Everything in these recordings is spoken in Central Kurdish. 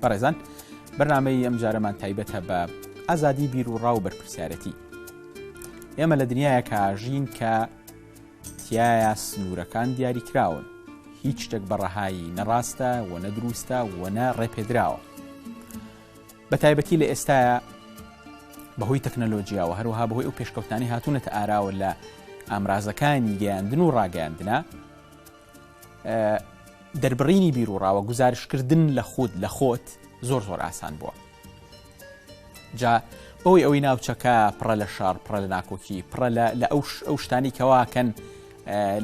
بەڕێزان بەرنامەی ئەم جارەمان تایبەتە بە ئازادی بیر و ڕاو بەرپرسیارەتی ئێمە لە دنیاە کاژین کە تایە سنوورەکان دیاری کراون هیچ شتێک بەڕەهایی نەڕاستە و نەدروستە وەنە ڕێپێدراوە بە تایبەتی لە ئێستاە بەهۆی تەکنەلۆژیاوە هەروها بەهۆی ئەو پێشکەوتانی هاتوونەتە ئاراوە لە ئامرازەکانی گەیاندن و ڕاگەاندنا دەربڕینی بیروڕاوە گوزارشتکردن لە خود لە خۆت زۆر زۆر ئاسان بووە جا بەوەی ئەوەی ناوچەکە پڕە لە شار پڕە لە ناکۆکی پڕە لە ئەو ئەو شتانی کەواکەن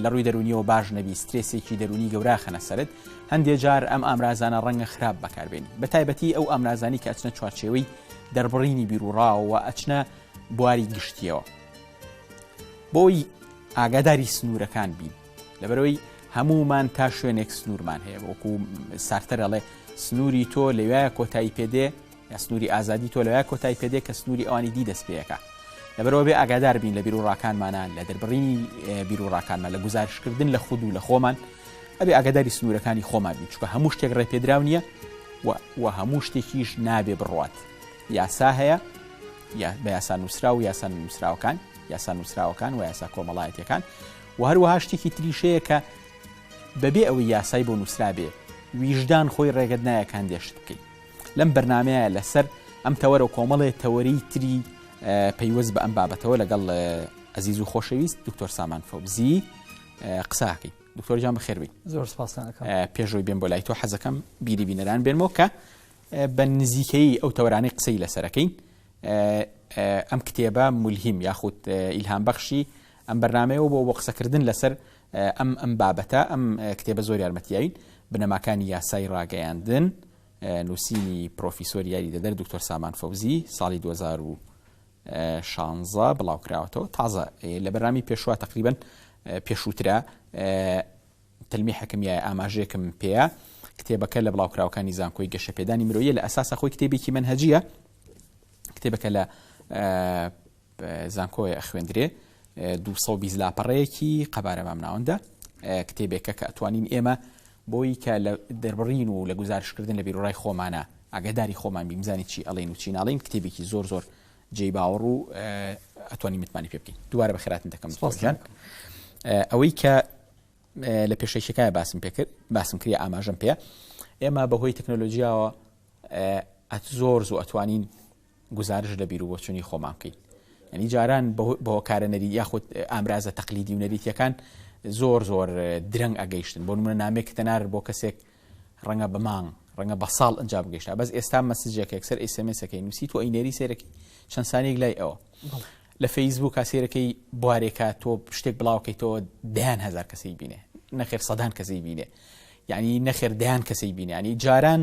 لە ڕووی دەرونیەوە باش نەبی سترێسێکی دەرونی گەورا خەنە سرت هەندێک جار ئەم ئامرازانە ڕەنگە خراپ بەکاربین بە تایبەتی ئەو ئامرازانی کە ئەچنە چوارچێوەی دەربڕینی بیروڕاوە ئەچنە بواری گشتیەوە بۆی ئاگاداری سنوورەکان بین لەبەرەوەی هەموومان تا شوێنێک سنوورمان هەیە وەکو سارتەر ئەڵێ سنووری تۆ لەوایە کۆتایی پێدێ یا سنووری ئازادی تۆ لەوای کۆتای پێدێ کە سنووری ئەوانی دی دەست پێەکە لەبەرەوە بێ ئاگادار بین لە بیرروڕاکانمانە لە دەربڕینی بیرروڕاکانمان لە گزارشکردن لە خود و لە خۆمان ئەبێ ئاگاداری سنوورەکانی خۆمان بین چکە هەموو شتێک ڕێپێدراو نییە و هەموو شتێکیش نابێ بڕات یاسا هەیە بە یاسا نووسرا و یاسا نووسراوەکان یاسا نووسراوەکان و یاسا کۆمەڵایەتەکان وە هەروەها شتێکی تریش هەیە کە بەبێ ئەوەی یاسای بۆ نووسرابێ ویژدان خۆی ڕێگەت نایە کە هەندێ شت بکەی لەم بەرنمەیە لەسەر ئەم تەوەرە کۆمەڵێ تەوەری تری پەیوەست بە ئەم بابەتەوە لەگەڵ ئەزیز و خۆشەویست دکتۆر سامان فەوزی قساکەی دکتۆرجان بەخێربی زۆر پێشۆی بێن بۆ لای تۆ حەزەکەم بیری بینەران بێنمەوە کە بە نزیکەی ئەو تەورانەی قسەی لەسەرەکەین ئەم کتێبە ملهیم یاخود ئیلهام بەخشی ئەم بەرنامەیە و بۆ بۆ قسەکردن لەسەر ئەم ئەم بابەتە ئەم کتێبە زۆر یارمەتیین بنەماکانی یاسای ڕاگەیاندن نووسینی پرۆفیسۆری یاری دەدەر دکتۆر سامان فەوزی ساڵی 2016 بڵاوکراوەتەوە تازە لە بەرامی پێشوا تقریبن پێشووترە تەلمی حەکمیای ئاماژێکم پێەیە کتێبەکە لە بڵاوکراوەکانی زانکۆی گەشەپێدانی مرۆیە لە ئەساسە خۆی کتێبێکی منهجیە کتێبەکە لە زانکۆیە ئەخوێندرێ دوو سەد و بیست لاپەڕەیەکی قەبارە مام ناوەندە کتێبێکە کە ئەتوانین ئێمە بۆی کە لە دەربڕین و لە گزارشکردن لە بیرڕای خۆمانە ئاگاداری خۆمان بیمزانی چی ئەڵێن و چیناڵین کتێبێکی زۆر زۆر جێی باوەڕ و ئەتوانی متمانی پێ بکەین دووارە بەخێراتن دەکەم سپاسیان ئەوەی کە لە پێشەکیەکە باسم پێکرد باسم کرد ئاماژەم پێ ئێمە بەهۆی تەکنۆلۆژیاوە ئەت زۆر زوو ئەتوانین گوزارش لە بیروبۆچونی خۆمان بکەین یعنی جاران بەهۆکارە نەری یاخود ئامرازە تەقلیدی و نەریتیەکان زۆر زۆر درەنگ ئەگەیشتن بۆ منە نامێک تەنار بۆ کەسێک ڕەنگە بە مانگ ڕەنگە بە ساڵ ئەنج بگەشتا بەس ئێستا مەسجێکێک سەر ئیسمسەکەی نووسی تۆ ئەینێری سێرەکی چەند سانێک لای ئەوە لە فەیسبوک سێرەکەی بوارێکە تۆ شتێک بڵاوکەیتەوە دەیان هزار کەسی بینێ نەخێر سەدان کەسی بینێ یعنی نەخێر دەیان کەسی بینێ ینی جاران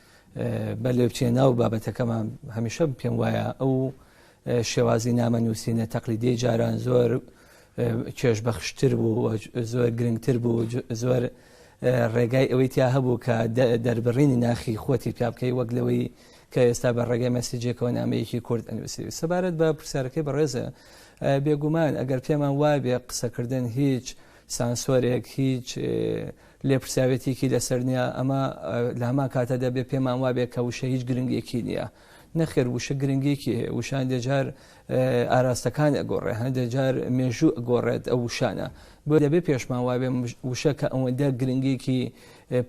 بەلێ بچێ ناو بابەتەکەمان هەمیشە پێم وایە ئەو شێوازی نامە نووسینە تەقلیدی جاران زۆر کێش بەخشتر بوو زۆر گرنگتر بوو زۆر ڕێگای ئەوەی تیا هەبوو کە دەربڕینی ناخی خۆتی پیا بکەی وەک لەوەی کە ئێستا بە ڕێگەی مەسیجێکەوە نامەیەکی کورد ئەنووسی سەبارەت بە پرسیارەکەی بەڕێزە بێگومان ئەگەر پێمان وابێ قسەکردن هیچ سانسۆرێک هیچ لێپرسراوێتیکی لەسەر نیە، ئەمە لە هەمان کاتە دەبێ پێمان وابێ کە وشە هیچ گرنگێکی نیە. نەخێر وشە گرنگێکی هەیە، وشە هەندێ جار ئاراستەکان ئەگۆڕێ، هەندێ جار مێژوو ئەگۆڕێت ئەو وشانە. بۆیە دەبێ پێشمان وابێ وشە کە ئەوەندە گرنگێکی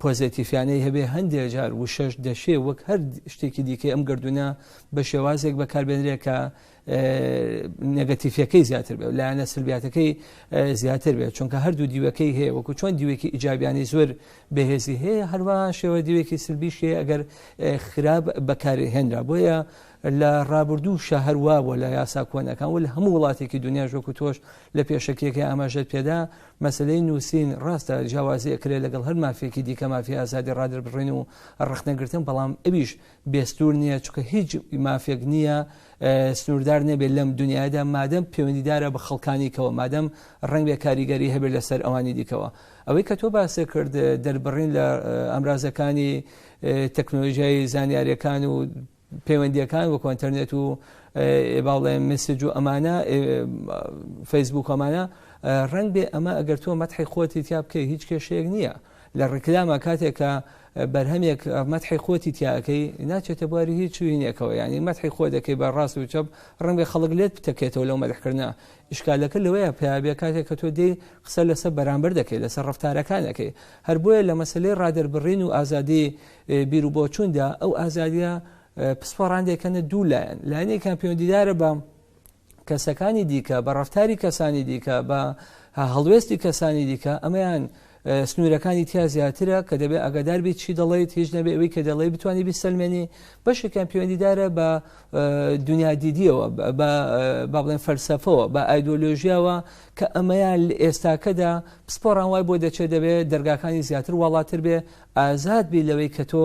پۆزێتیفیانەی هەبێ، هەندێ جار وشەش دەشێ وەک هەر شتێکی دیکەی ئەم گەردوونە بە شێوازێک بەکاربێنرێ کە نێگەتیفیەکەی زیاتر بێت لایەنە سلبیاتەکەی زیاتر بێت چونکە هەردوو دیوەکەی هەیە وەکو چۆن دیوێکی ئیجابیانی زۆر بەهێزی هەیە هەروە شێوە دیوێکی سلبیشی ئەگەر خراپ بەکارهێنرا بۆیە لە ڕابردوو شە هەروە بۆ لە یاسا کۆنەکان و لە هەموو وڵاتێکی دنیا ژۆکو تۆش لە پێشەکیەکە ئاماژەت پێدا مەسلەی نووسین ڕاستە جیاوازی ئەکرێت لەگەڵ هەر مافێکی دیکە مافی ئازادی ڕادربڕین و ڕخنەگرتن بەڵام ئەویش بێ سنوور نییە، چونکە هیچ مافێک نییە سنووردار نەبێت لەم دنیادا، مادەم پەیوەندیدارە بە خەڵکانی کەوە، مادەم ڕەنگ بێ کاریگەری هەبێت لەسەر ئەوانی دیکەوە. ئەوەی کە تۆ باست کرد دەربڕین لە ئامرازەکانی تەکنۆلۆژیای زانیاریەکان و پەیوەندیەکان وەکو ئەتەرنێت و باڵێ مسج و ئەمانە فەیسبووکەمانە ڕەنگ بێ ئەمە ئەگەر تۆ مەتحی خۆتی تیا بکەی هیچ کێشەیەک نییە لە ڕیکلاما کاتێک کە بەرهەمێک مەتحی خۆتی تیا ئەەکەی ناچێتە بواری هیچ چوینێکەوە ینی مەتحی خۆ دەکەی بە ڕاست و چەپ ڕەنگە خەڵک لێت بتەکێتەوە لەو مەدحکردە ئشکالەکە لەوەیە پیاێ کاتێک کە تۆ دێ قسە لەسەر بەرامبەر دەکەی لەسەر ڕفتارەکانەکەی هەر بۆیە لە مەسلەی ڕادەربڕین و ئازادی بیر و بۆچووندا ئەو ئازادیە پسپۆڕان دەکەنە دوو لایەن لایەنێکان پەیوەندیدارە بە کەسەکانی دیکە بە ڕفتاری کەسانی دیکە بە هەڵوێستی کەسانی دیکە ئەمەیان سنوورەکانی تیا زیاترە کە دەبێت ئەگەدار بیت چی دەڵیت هیچ نەبێ ئەوی کە دەڵی بتانی بیسەلمێنی بەشێکیان پەیوەندیدارە بە دنیا دیدیەوە با بڵێن فەلسەفەوە بە ئایدۆلۆژیاوە کە ئەمەیان ئێستاکەدا پسپۆڕان وای بۆ دەچێت دەبێت دەرگاکانی زیاتر وڵاتر بێ ئازاد بی لەوەی کە تۆ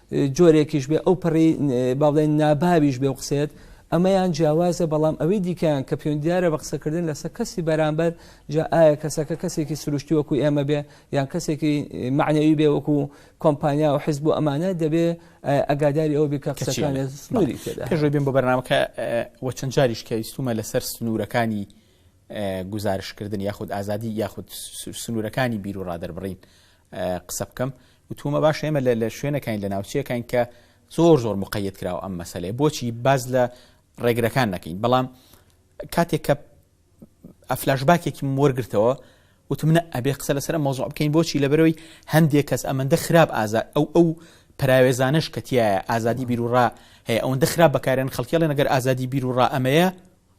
جۆرێکیش بێ ئەو پەڕی باڵێن ناباویش بێ و قسێت ئەمەیان جیاوازە بەڵام ئەوەی دیکەیان کە پێوەندیارە بە قسەکردن لەسەر کەسی بەرامبەر جا ئایا کەسەکە کەسێکی سروشتی وەکو ئێمە بێ یان کەسێکی معنەوی بێ وەکو کۆمپانیا و حیزب و ئەمانە دەبێ ئەگاداری ئەو بکە قسەکانێت سنووری تێدا پێشوی بێن بۆ بەرنامەکە وە چەند جاریش کە ویستومە لەسەر سنوورەکانی گزارشکردن یاخود ئازادی یاخود سنوورەکانی بیر و ڕادەربڕین قسە بکەم وتومە باشە ئێمە لە شوێنەکەین لە ناوچەکەین کە زۆر زۆر مقەیت کراوە ئەم مەسلەیە بۆچی باز لە ڕێگرەکان نەکەین بەڵام کاتێک کە ئەفلاش باکێکی وەرگرتەوە وتمنە ئەبێ قسە لەسەر مۆزۆ بکەین بۆچی لە بەرەوەی هەندێک کەس ئەمەندە خراپ ئازا ئەو ئەو پراوێزانش کەتیایە ئازادی بیرروڕا هەیە ئەوەندە خراپ بەکارێن خەڵکیڵێن نەگەر ئازادی بیرروڕا ئەمەیە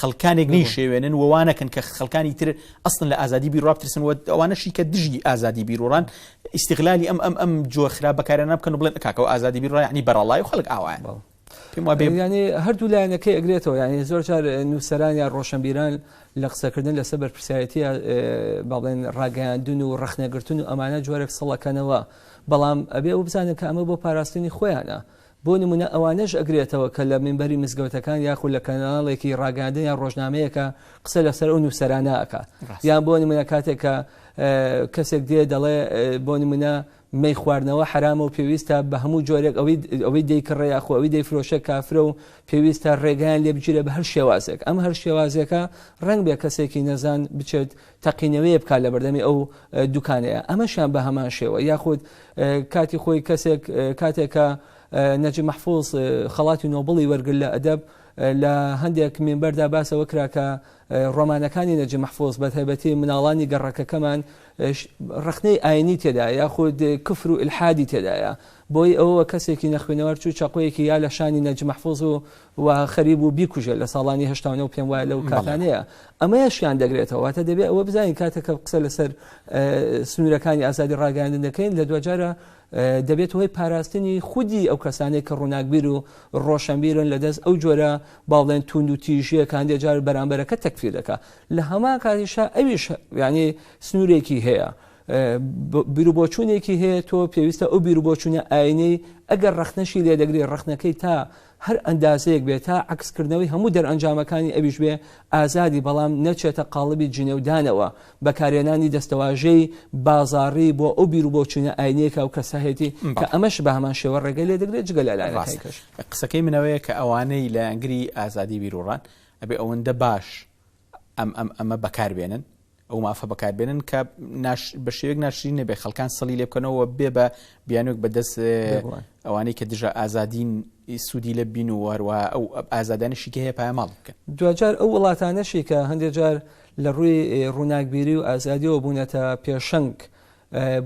خەڵکانێک نەیشێوێنن و وا نەکەن کە خەڵکانی تر ئەسڵن لە ئازادی بیر وا بترسن و ئەوانەشی کە دژی ئازادی بیروران ئیستیغلالی ئەم ئەم ئەم جۆر خراپ بەکارانە بکەن و بڵێن کاکەوە ئازادی بیر ڕایانی بەرەڵای و خەڵک ئاوایان بەڵ پێم وا بێ یانێ هەردوو لایەنەکەی ئەگرێتەوە یانێ زۆر جار نووسەران یا ڕۆشنبیران لە قسەکردن لەسەر بەرپرسیارەتی با بڵێن ڕاگەیاندون و ڕەخنەگرتن و ئەمانە جۆرێک سەڵەکەنەوە بەڵام ئەبێ ئەو بزانن کە ئەمە بۆ پاراستنی خۆیانە بۆ نموونە ئەوانەش ئەگرێتەوە کە لە مینبەری مزگەوتەکان یاخود لە کەناڵێکی ڕاگەیاندن یان ڕۆژنامەیەکا قسە لەسەر ئەو نووسەرانە ئەکا ڕاستە. یان بۆ نموونە کاتێک کە کەسێک دێ دەڵێ بۆ نموونە مەی خواردنەوە حەرامە و پێویستە بە هەموو جۆرێک ئەوی ئەوەی دەیکڕێ یاخۆ ئەوی دەیفرۆشێ کافرە و پێویستە ڕێگەیان لێ بگیرێ بە هەر شێوازێک ئەم هەر شێوازێکە ڕەنگ بێ کەسێکی نەزان بچێت تەقینەوەیە بکات لە بەردەمی ئەو دوکانەیە ئەمەشیان بە هەمان شێوە یاخود کاتی خۆی کەسێک کاتێک کە نەجی مەحفوظ خەڵاتی نۆبڵی وەرگر لە ئەدەب لە هەندێک مینبەردا باسەوە کرا کە ڕۆمانەکانی نەجی مەحفوظ بە تایبەتی مناڵانی گەڕەکەکەمان ڕخنەی ئاینی تێدا یاخود کفر و الحادی تێدایە بۆی ئەوە کەسێکی نەخوێنەوار چوو چەقۆیەکی یا لە شانی نەجی مەحفوظ و و خەریک بوو بیکوژێت لە ساڵانی هەشتا و نۆ پێم وایە لەو کاتانەیە ئەمەیشیان دەگرێتەوە واتە دەبێت ئەوە بزانین کاتێک کە قسە لەسەر سنوورەکانی ئازادی ڕاگەاندن دەکەین لە دوجارە دەبێت هۆی پاراستنی خودی ئەو کەسانێک کە ڕووناکبیر و ڕۆشنبیرن لە دەست ئەو جۆرە باڵێن توند و تیژیەکان دێجار بەرامبەرەکە تەکفیر دەکە لە هەمان کاتیشا ئەویش یعنی سنوورێکی هەیە. بیرروبۆچوونێکی هەیە تۆ پێویستە ئەو بیرروبۆچوونە ئاینەی ئەگەر ڕخنەشی لێ دەگری ڕخنەکەی تا هەر ئەندازەیەک بێت تا عەکس کردنەوەی هەموو دەرئەنجامەکانی ئەویش بێ ئازادی بەڵام نەچێتە قاڵبی جنێودانەوە، بەکارهێنانی دەستەواژەی بازاڕی بۆ ئەو بیرو بۆچوونە ئاینیە کە ئەو کەسە هەیەتی کە ئەمەش بە هەمان شێوە ڕێگەی لێ دەگرێت جگە لە لایەنەکانی کەش. قسەکەی من ئەوەیە کە ئەوانەی لایەنگری ئازادی بیروڕان ئەبێ ئەوەندە باش ئەم ئەم ئەمە بەکار بێنن ئەو مافە بەکاربێنن کە بە شێوەیەک ناشرین نەبێت خەڵکان سەلی لێ بکەنەوە و بێ بە بیانوێک بەدەست ببڕن. ئەوانەی کە دژە ئازادین ی سوودی لێ ببین و هەروەها ئەو ئازادانەشی کە هەیە پایەماڵ بکەن. دواجار ئەو وڵاتانەشی کە هەندێک جار لە ڕووی ڕووناکبیری و ئازادییەوە بوونەتە پێشەنگ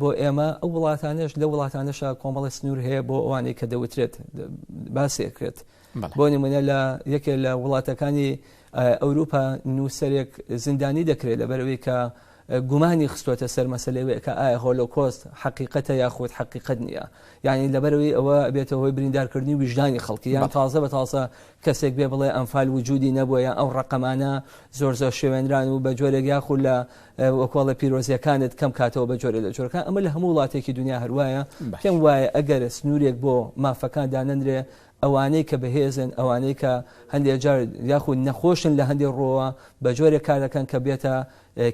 بۆ ئێمە، ئەو وڵاتانەش لەو وڵاتانەشە کۆمەڵێک سنوور هەیە بۆ ئەوانەی کە دەوترێت باس دەکرێت. بۆ نموونە لە یەکێ لە وڵاتەکانی ئەوروپا نووسەرێک زیندانی دەکرێت لەبەر ئەوەی کە گومانی خستووەتە سەر مەسەلەی وەی کە ئایا هۆلۆکۆست حەقیقەتە یاخود حەقیقەت نییە یعنی لەبەرەوەی ئەوە بێتە هۆی بریندارکردنی ویژدانی خەڵکی یان تازە بە تازە کەسێک بێ بڵێ ئەمفال وجودی نەبووە یان ئەو ڕقەمانە زۆر زۆر شێوێنران و بە جۆرێک یاخود لە وەکۆڵە پیرۆزیەکانت کەم کاتەوە بە جۆرە لە جۆرەکە ئەمە لە هەموو وڵاتێکی دنیا هەروایە پێم وایە ئەگەر سنوورێک بۆ مافەکان دانەنرێ ئەوانەی کە بەهێزن، ئەوانەی کە هەندێک جار یاخود نەخۆشن لە هەندێک ڕووەوە، بە جۆرێک کار دەکەن کە بێتە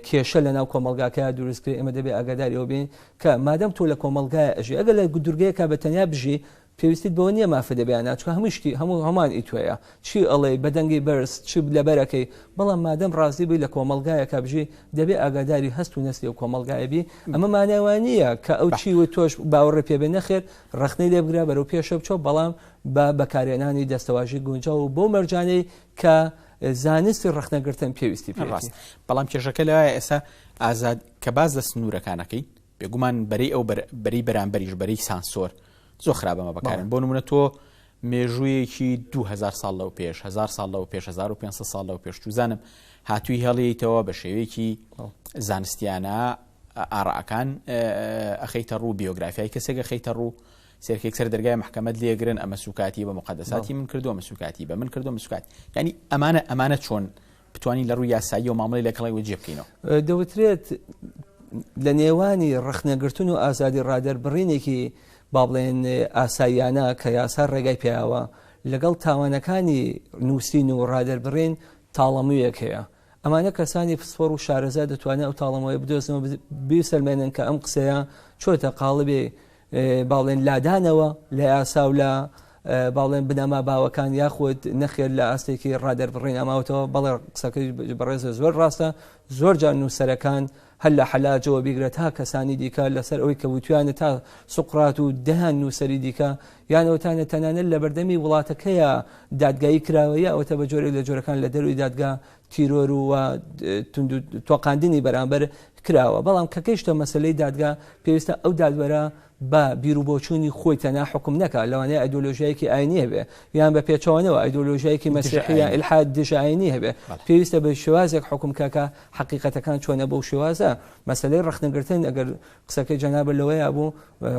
کێشە لەناو کۆمەڵگاکەیا دروست بکرێت، ئێمە دەبێت ئاگاداری ئەوە بین کە مادام تۆ لە کۆمەڵگایا ئەژی، ئەگەر لە دوورگەیەکا بە تەنیا بژی، پێویستیت بەوە نییە مافت هەبێ یان نا، چونکە هەموو شتی، هەموو هەمان ئی تۆیە، چی ئەڵێی، بە دەنگی بەرز، چ لەبەر ئەکەی، بەڵام مادام ڕازی بووی لە کۆمەڵگایەکا بژی، دەبێ ئاگاداری هەست و نەستی ئەو کۆمەڵگایە بی، ئەمە مانای وانییە کە ئەو چی وت تۆش باوەڕێ پێ بێ، نەخێر، ڕەخنەی لێ بگرە بەرەو پێشە بچۆ بەڵام بە بەکارێنانی دەستەواژی گونجاو و بەو مەرجانەی کە زانستی ڕەخنەگرتن پێویستی پێ ڕاست بەڵام کێشەکە لە ئێسا ئازاد کە باز لە سنوورەکانەکەی بێگومان بەری ئەو بەری بەرامبەریش بەری سانسۆر زۆر خراپەمە بەکارن بۆ نمونە تۆ مێژوویەکی 2000 ساڵ لەو پێش 1000 ساڵ لەو پێش 1500 ساڵ لەو پێشتوزانم هاتووی هەڵیتەوە بە شێوەیەکی زانستیانە ئاڕائەکان ئەخەیتە ڕوو، بیۆگرافیای کەسێک ئەخەیتە ڕوو، سێرکێک سەر دەرگای مەحکەمەت لێگرن ئەمە سوکاتی بە مقدساتی من کردو ئەمە سوکاتی بە من کردو مسکات ینی ئەمانە ئەمانە چۆن بتوانین لە ڕووی یاسایی و مامەڵی لەگەڵی وەجێ بکەینەوە دەوترێت لە نێوانی ڕخنەگرتن و ئازادی ڕادەر بڕینێکی با بڵێن ئاساییانە کە یاسا ڕێگای پیاوە لەگەڵ تاوانەکانی نووسین و ڕادەربڕین تاڵەمویەک هەیە ئەمانە کەسانی پسپۆڕ و شارەزا دەتوانن ئەو تاڵەمۆیە بدۆزنەوە بیسەلمێنن کە ئەم قسەیە چۆتە قاڵبێ باڵێن لادانەوە لە یاسا و لە باڵێن بنەما باوەکان یاخود نەخێر لە ئاستێکی ڕادەربڕین ئەماوتەوە بەڵێ قسەکەی بەڕێزە زۆر ڕاستە زۆر جان نووسەرەکان هەر لە حەلاجەوە بیگرە تا کەسانی دیکە لەسەر ئەوەی کە وتویانە تا سوقرات و دەیان نووسەری دیکە یان ئەوتانە تەنانەت لە بەردەمی وڵاتەکەیە دادگایی کراوە یا ئەوتە بە جۆرێک لە جۆرەکان لە دەروی دادگا تیرۆر و تۆقاندنی بەرامبەر کراوە بەڵام کە گەیشتە مەسلەی دادگا پێویستە ئەو دادوەرە با بیروبۆچوونی خۆی تەنها حوکم نەکات، لەوانەیە ئایدۆلۆژیایەکی ئاینی هەبێت، یان بە پێچەوانەوە ئایدۆلۆژیایەکی مەسیحی یان ئیلحاد دژەئاینی هەبێت، پێویستە بە شێوازێک حوکم بکات کە حەقیقەتەکان چۆنە بەو شێوازە. مەسەلەی ڕەخنەگرتن، ئەگەر قسەکەی جەنابت لەوەیە بوو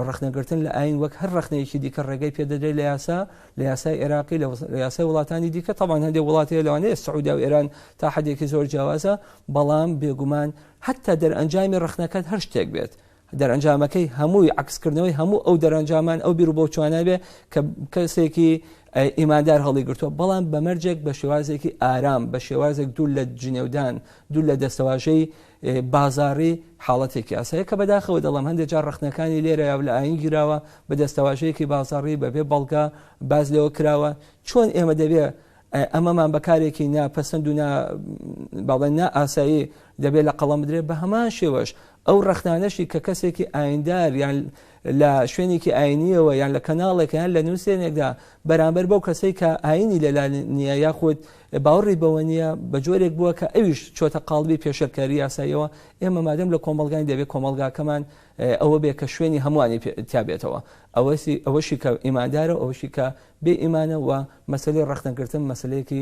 ڕەخنەگرتن لە ئاین وەک هەر ڕەخنەیەکی دیکە ڕێگەی پێدەدرێت لە یاسا، لە یاسای عێراقی، لە یاسای وڵاتانی دیکە، تەبعەن هەندێک وڵات هەیە لەوانەیە سعودیا و ئێران تا حەدێکی زۆر جیاوازە، بەڵام بێگومان حەتتا دەرئەنجامی ڕەخنەکەت هەر شتێک بێت، دەرئەنجامەکەی هەمووی عەکسکردنەوەی هەموو ئەو دەرئەنجامان ئەو بیروبۆچوانە بێ کە کەسێکی ئیماندار هەڵیگرتووە بەڵام بەمەرجێک بە شێوازێکی ئارام بە شێوازێک دوور لە جنێودان دوور لە دەستەواژەی بازاری حاڵەتێکی ئاسایە کە بەداخەوە دەڵم هەندێک جار ڕخنەکانی لێرە یا لە ئاین گیراوە بە دەستەواژەیەکی بازاری بەبێ بەڵگە باز لەوە کراوە چۆن ئێمە دەبێ ئەمەمان بەکارێکی ناپەسەند و باڵێن نا ئاسایی دەبێت لە قەڵم بدرێت بە هەمان شێوەش ئەو ڕەخنانەشی کە کەسێکی ئاییندار یان لە شوێنێکی ئایینیەوە یان لە کەناڵێکە یان لە نووسێنێکدا بەرامبەر بەو کەسەی کە ئایینی لەلا نییە یاخود باوەڕی بەوە نییە بە جۆرێک بووە کە ئەویش چۆتە قاڵبی پێشێلکاری یاساییەوە ئێمە مادەم لە کۆمەڵگاین دەبێت کۆمەڵگاکەمان ئەوە بێ کە شوێنی هەمووانی تابێتەوە ئەوەسی ئەوەشی کە ئیماندارە ئەوەشی کە بێ ئیمانە و مەسلەی ڕەخنەگرتن مەسلەیەکی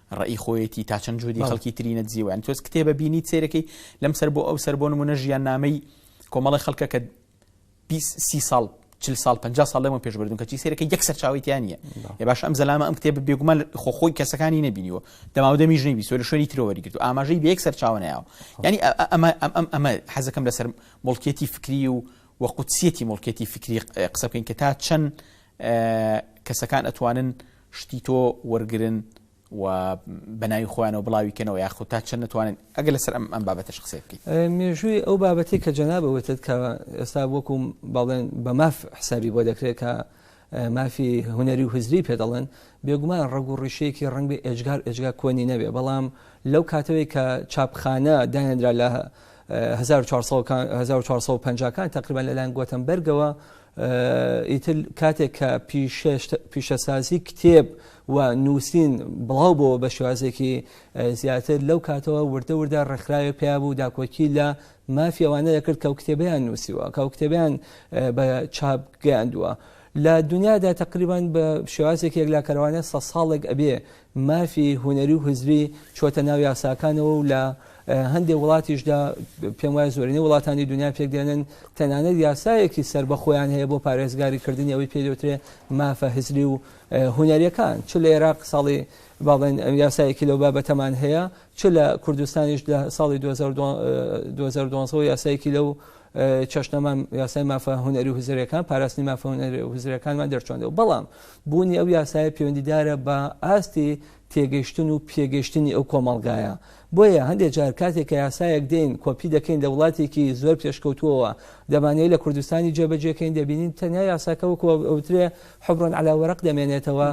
ڕەئی خۆیەتی تا چەند جهدی خەڵکی تری نەدزیوە یان تۆز کتێبە بینیت سەیرەکەی لەم سەر بۆ ئەو سەر بۆ نمونە ژیان نامەی کۆمەڵی خەڵکە کە سی ساڵ چل ساڵ پ ساڵ لەمە پێش بردون کەچی سەرەکە یەک سەرچاویتیانە ێ باش ئەم زەلامە ئەم کتێب بێگومان خۆخۆی کەسەکانی نبینیوە دەماودەمیش نەبی سۆ لە شوێنی ترەوەری گرتو ئاماژەی بە یەک سەرچاونەیەوە ینی ئەمە ئەم ئەمە حەزەکەم لەسەر مڵکێتی فکری و و قوتسیەتی مڵکێتی فکری قسە بکەین کە تا چەند کەسەکان ئەتوانن شتی تۆ وەرگرن و بە ناوی خۆیانەوە بڵاوی کەنەوە یاخود تا چەند نەتوانن ئەگەر لەسەر ئەم ئەم بابەتەش قسەی بکەیت. مێژووی ئەو بابەتەی کە جەنابت وتت کە ئێستا وەکو بەڵێن بە ماف حسابی بۆ دەکرێت کە مافی هونەری و هزری پێ دەڵێن بێگومان ڕەگ و ڕیشەیەکی ڕنگ بێ ئێجگار ئێجگا کۆنی نەبێ بەڵام لەو کاتەوەی کە چاپخانە دانێنرا لە 1450 کان تقریبا لەلایەن گۆتەمبەرگەوە ئیتر کاتێک کە پیشەسازی کتێب و نووسین بڵاو بۆەوە بە شێوازێکی زیاتر لەو کاتەوە وردە وردە ڕێکخراوێ پیا بوو داکۆکی لە مافی ئەوانە دەکرد کە کتێبیان نووسیوە کە کتێبیان بە چاپ گەیاندووە. لە دنیادا تقریبان بە شێوازێک یەکلاکەرەوانە سە ساڵێک ئەبێ مافی هونەری و هزری چۆتە ناو یاساکانەوە و لە هەندێ وڵاتیشدا پێم وایە زۆرینەی وڵاتانی دنیا پێک دێنن تەنانەت یاسایەکی سەر بەخۆیان هەیە بۆ پارێزگاری کردنی ئەوەی پێ دەوترێ مافە هزری و هونەریەکان چ لە عێراق ساڵی باڵێن یاسایەکی لەو بابەتەمان هەیە چ لە کوردستانیش لە ساڵی 2012 یاسایەکی لەو چەشنەمان یاسای مافە هونەری هزرەکان پاراستنی مافە هونەری هزرەکانمان دەرچۆندەوە بەڵام بوونی ئەو یاسایە پەیوەندیدارە بە ئاستی تێگەشتن و پێگەشتنی ئەو کۆمەڵگایە بۆیە هەندێک جار کاتێک کە یاسایەک دێن کۆپی دەکەین لە وڵاتێکی زۆر پێشکەوتووەوە دەمانەیە لە کوردستانی جێبەجێکەین دەبینین تەنیا یاساکە وەکو ئەوترێ حبرۆن علاوەرەق دەمێنێتەوە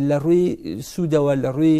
لە ڕووی سوودەوە لە ڕووی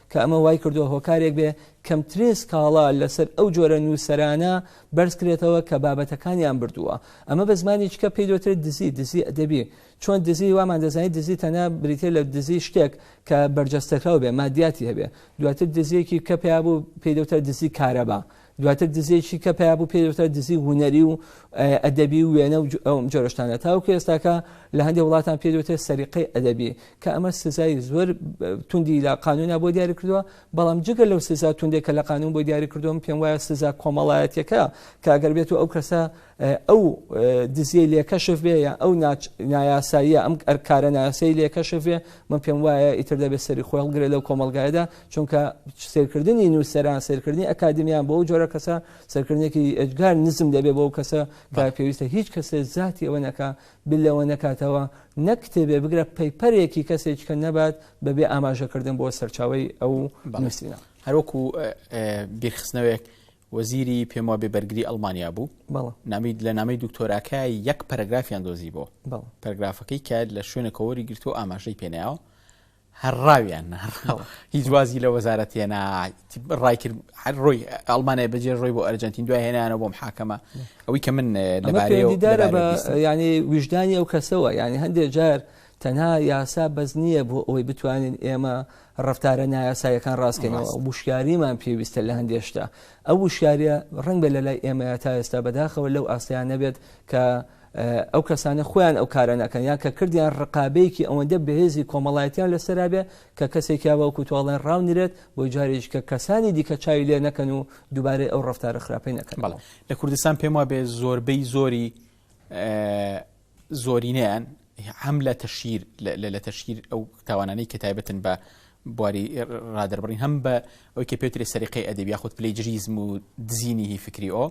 کە ئەمە وای کردووە هۆکارێک بێ کەمترێ سکاڵا لەسەر ئەو جۆرە نووسەرانە بەرز کرێتەوە کە بابەتەکانیان بردووە ئەمە بە زمانی چکە پێی دۆترێت دزی دزی ئەدەبی چۆن دزی وامان دەزانانی دزی تەنە بریتێ لە دزی شتێک کە بەرجەستەکراو بێ مادیاتی هەبێ دواتر دزیەکی کە پێیا بوو پێی دەوتە دزی کارەبا دواتر دزێکی کە پیا بوو پێدەوترا دزی هوەری و ئەدەبی و وێنە و ئەوم جۆرەشتانە تاوکە ئێستاکە لە هەندێک وڵاتان پێدوێتە سەریقەی ئەدەبی کە ئەمە سزای زۆر توندی لە قانونا بۆ دیاری کردووە بەڵام جگە لەو سزا توندێک کە لە قانون بۆ دیاری کردوم پێم وایە سزا کۆمەڵایەتەکە کاگەر بێت و ئەو کەسە ئەو دزیە لێکەشف بێ یا ئەو نایاساییە ئەم ئەرکارە ناسەی لێکەشف بێ من پێم وایە ئیتر دەبێت سەری خۆڵگرێت لەو کۆمەلگایدا چونکە سێرکردنی نووسەران سێرکردنی ئەکادمیان بۆ جۆرە کەسە سەرکردێکی ئەجگار نزم دەبێ بۆ کەسە کار پێویستە هیچ کەسێ زیاتی ئەوە نەکە بلەوە نەکاتەوە نەک کتێبێ بگرە پەیپەرێکی کەسێک کە نەبات بەبێ ئاماژەکردن بۆ سەرچاوی ئەو نووسینە هەروەکو بیرخستنەوەیەک وەزیری پێم وابێ بەرگری ئەلمانیا بوو نامیت لە نامی دکتۆراکە یەک پەرگرافیان دۆزی بۆ پەرگرافەکەی کە لە شوێنە کۆوەری گرتو ئاماژەی پێناوە هەر ڕاو یان نەڕاو هیچ وازی لە وەزارەت هێنا ڕایکرد هەر ڕۆی ئەڵمانای بەجێ ڕۆی بۆ ئەرجنتین دوای هێنانە بۆم حاکەمە ئەوەی کە من لەبارەیدارە بە ینی ویژدانی ئەو کەسەوە ینی هەندێک جار تەنها یاسا بەس نییە بۆ ئەوەی بتوانین ئێمە ڕفتارە نایاسایەکان ڕاستکەینەوە وشکاریمان پێویستە لە هەندێشتا ئەو وشکاریە ڕنگ بە لە لای ئێمە تا ئێستا بەداخەوە لەو ئاستیان نەبێت کە ئەو کەسانە خۆیان ئەو کارە نەکەن یان کە کردیان ڕقابەیەکی ئەوەندە بەهێزی کۆمەڵایەتیان لەسەرا بێ کە کەسێکیا بەوکو تۆڵێن ڕاونرێت بۆی جارێک کە کەسانی دیکە چاوی لێ نەکەن و دووبارەی ئەو ڕفتارە خراپی نەکەن بەڵ لە کوردستان پێم وابێ زۆربەی زۆری زۆرینەیان هەم لە تەشیر لە تەشیر ئەو تاوانانەی کە تایبەتن بە بواری ڕادربڕین هەم بە ئەوکە پێتری سەریقی ئەدەبی یاخود پلی جریزم و دزینی هی فکری ئەو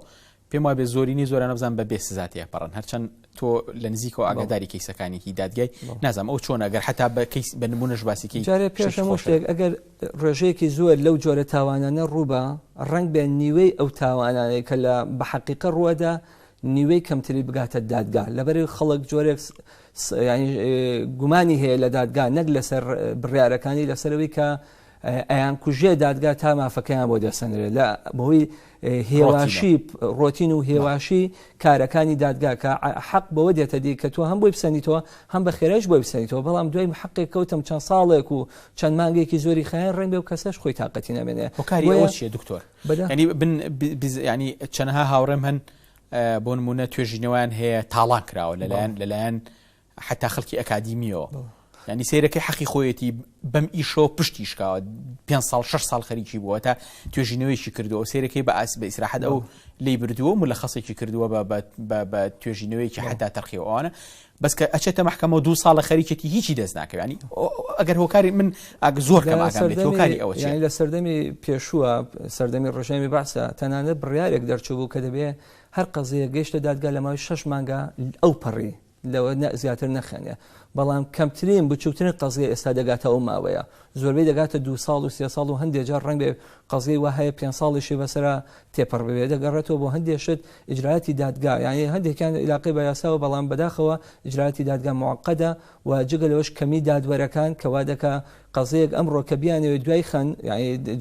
پێم وابێت زۆرینەی زۆرانە بزان بە بێ سزا تێپەڕن هەرچەند تۆ لە نزیکەوە ئاگاداری کەیسەکانێکی دادگای نازانم ئەو چۆن ئەگەر حتا بە کەیس بە نمونەش باسیکی جارێ پێشەمە شتێک ئەگەر ڕێژەیەکی زۆر لەو جۆرە تاوانانە ڕووبە ڕنگ بێن نیوەی ئەو تاوانانەی کە لە بە حەقیقە ڕووەدا نیوەی کەمتری بگاتە دادگا لەبەری خەڵک جۆرێک گومانی هەیە لە دادگا نەک لەسەر بڕارەکانی لەسەرەوەی کە ئەیانکوژێ دادگا تا مافەکەیان بۆ دەسەنرێت لە بەهۆی هێواشی ڕۆتین و هێواشی کارەکانی دادگا کە حەق بەوە دێتە دی کە تۆ هەم بۆی بسەنیتەوە هەم بە خێرایش بۆی بسەنیتەوە بەڵام دوای حەقێک کەوتم چەند ساڵێک و چەند مانگێکی زۆری خیان ڕێنبێ و کەسەش خۆی تااقەتی نامێنێ هۆکاری ئەوە چیە دکتۆر ینی بن ینی چەنەها هاوڕێم هەن بۆ نمونە توێژینەوەیان هەیە تاڵان کراوە لەلایەن لەلایەن حەتا خەڵکی ئەکادیمیەوە ینی سیرەکەی حەقی خۆیەتی بەم ئیشەوە پشتی شکاوە پێ ساڵ شش ساڵ خەریکی بووە تا توێژینەوەیکی کردووە سیرەکەی بە ئاس بە ئیسراحەت ئەو لی بردووە و لە خەسێکی کردووە بە توێژینەوەیکی حتا تەرخیەوەوانە بەس کە ئەچێتە محکەمەوە دو ساڵە خەریکێتی هیچی دەست ناکەوانی ئەگەر هۆکاری من ئاگ زۆر کەماکەکاری ئەوە لە سەردەمی پێشووە سەردەمی ڕژێمی باسە تەنانەت بڕارێک دەرچوو بوو کە دەبێ هەر قەزەیە گەشتە دادگا لە ماوەی شش مانگا ئەو پەڕی لەوە زیاتر نەخەنێ بەڵام کەمترین بچوکترین قەزیە ئێستا دەگاتە ئەو ماوەیە زۆربەی دەگاتە دو ساڵ و سێ ساڵ و هەندێ جار ڕەنگێ قەزیەی وا هەیە پێنج ساڵیشی بەسەرا تێپەڕ ببێ دەگەڕێتەوە بۆ هەندێ شت ئیجراتی دادگا یانی هەندێکیان علاقەی بە یاساوە بەڵام بەداخەوە ئیجراتی دادگا معقدە و جگە لەوەش کەمی دادوەرەکان کەوا دەکا قەزیەیەک ئەمڕۆ کە بیانەوێت دوای خەن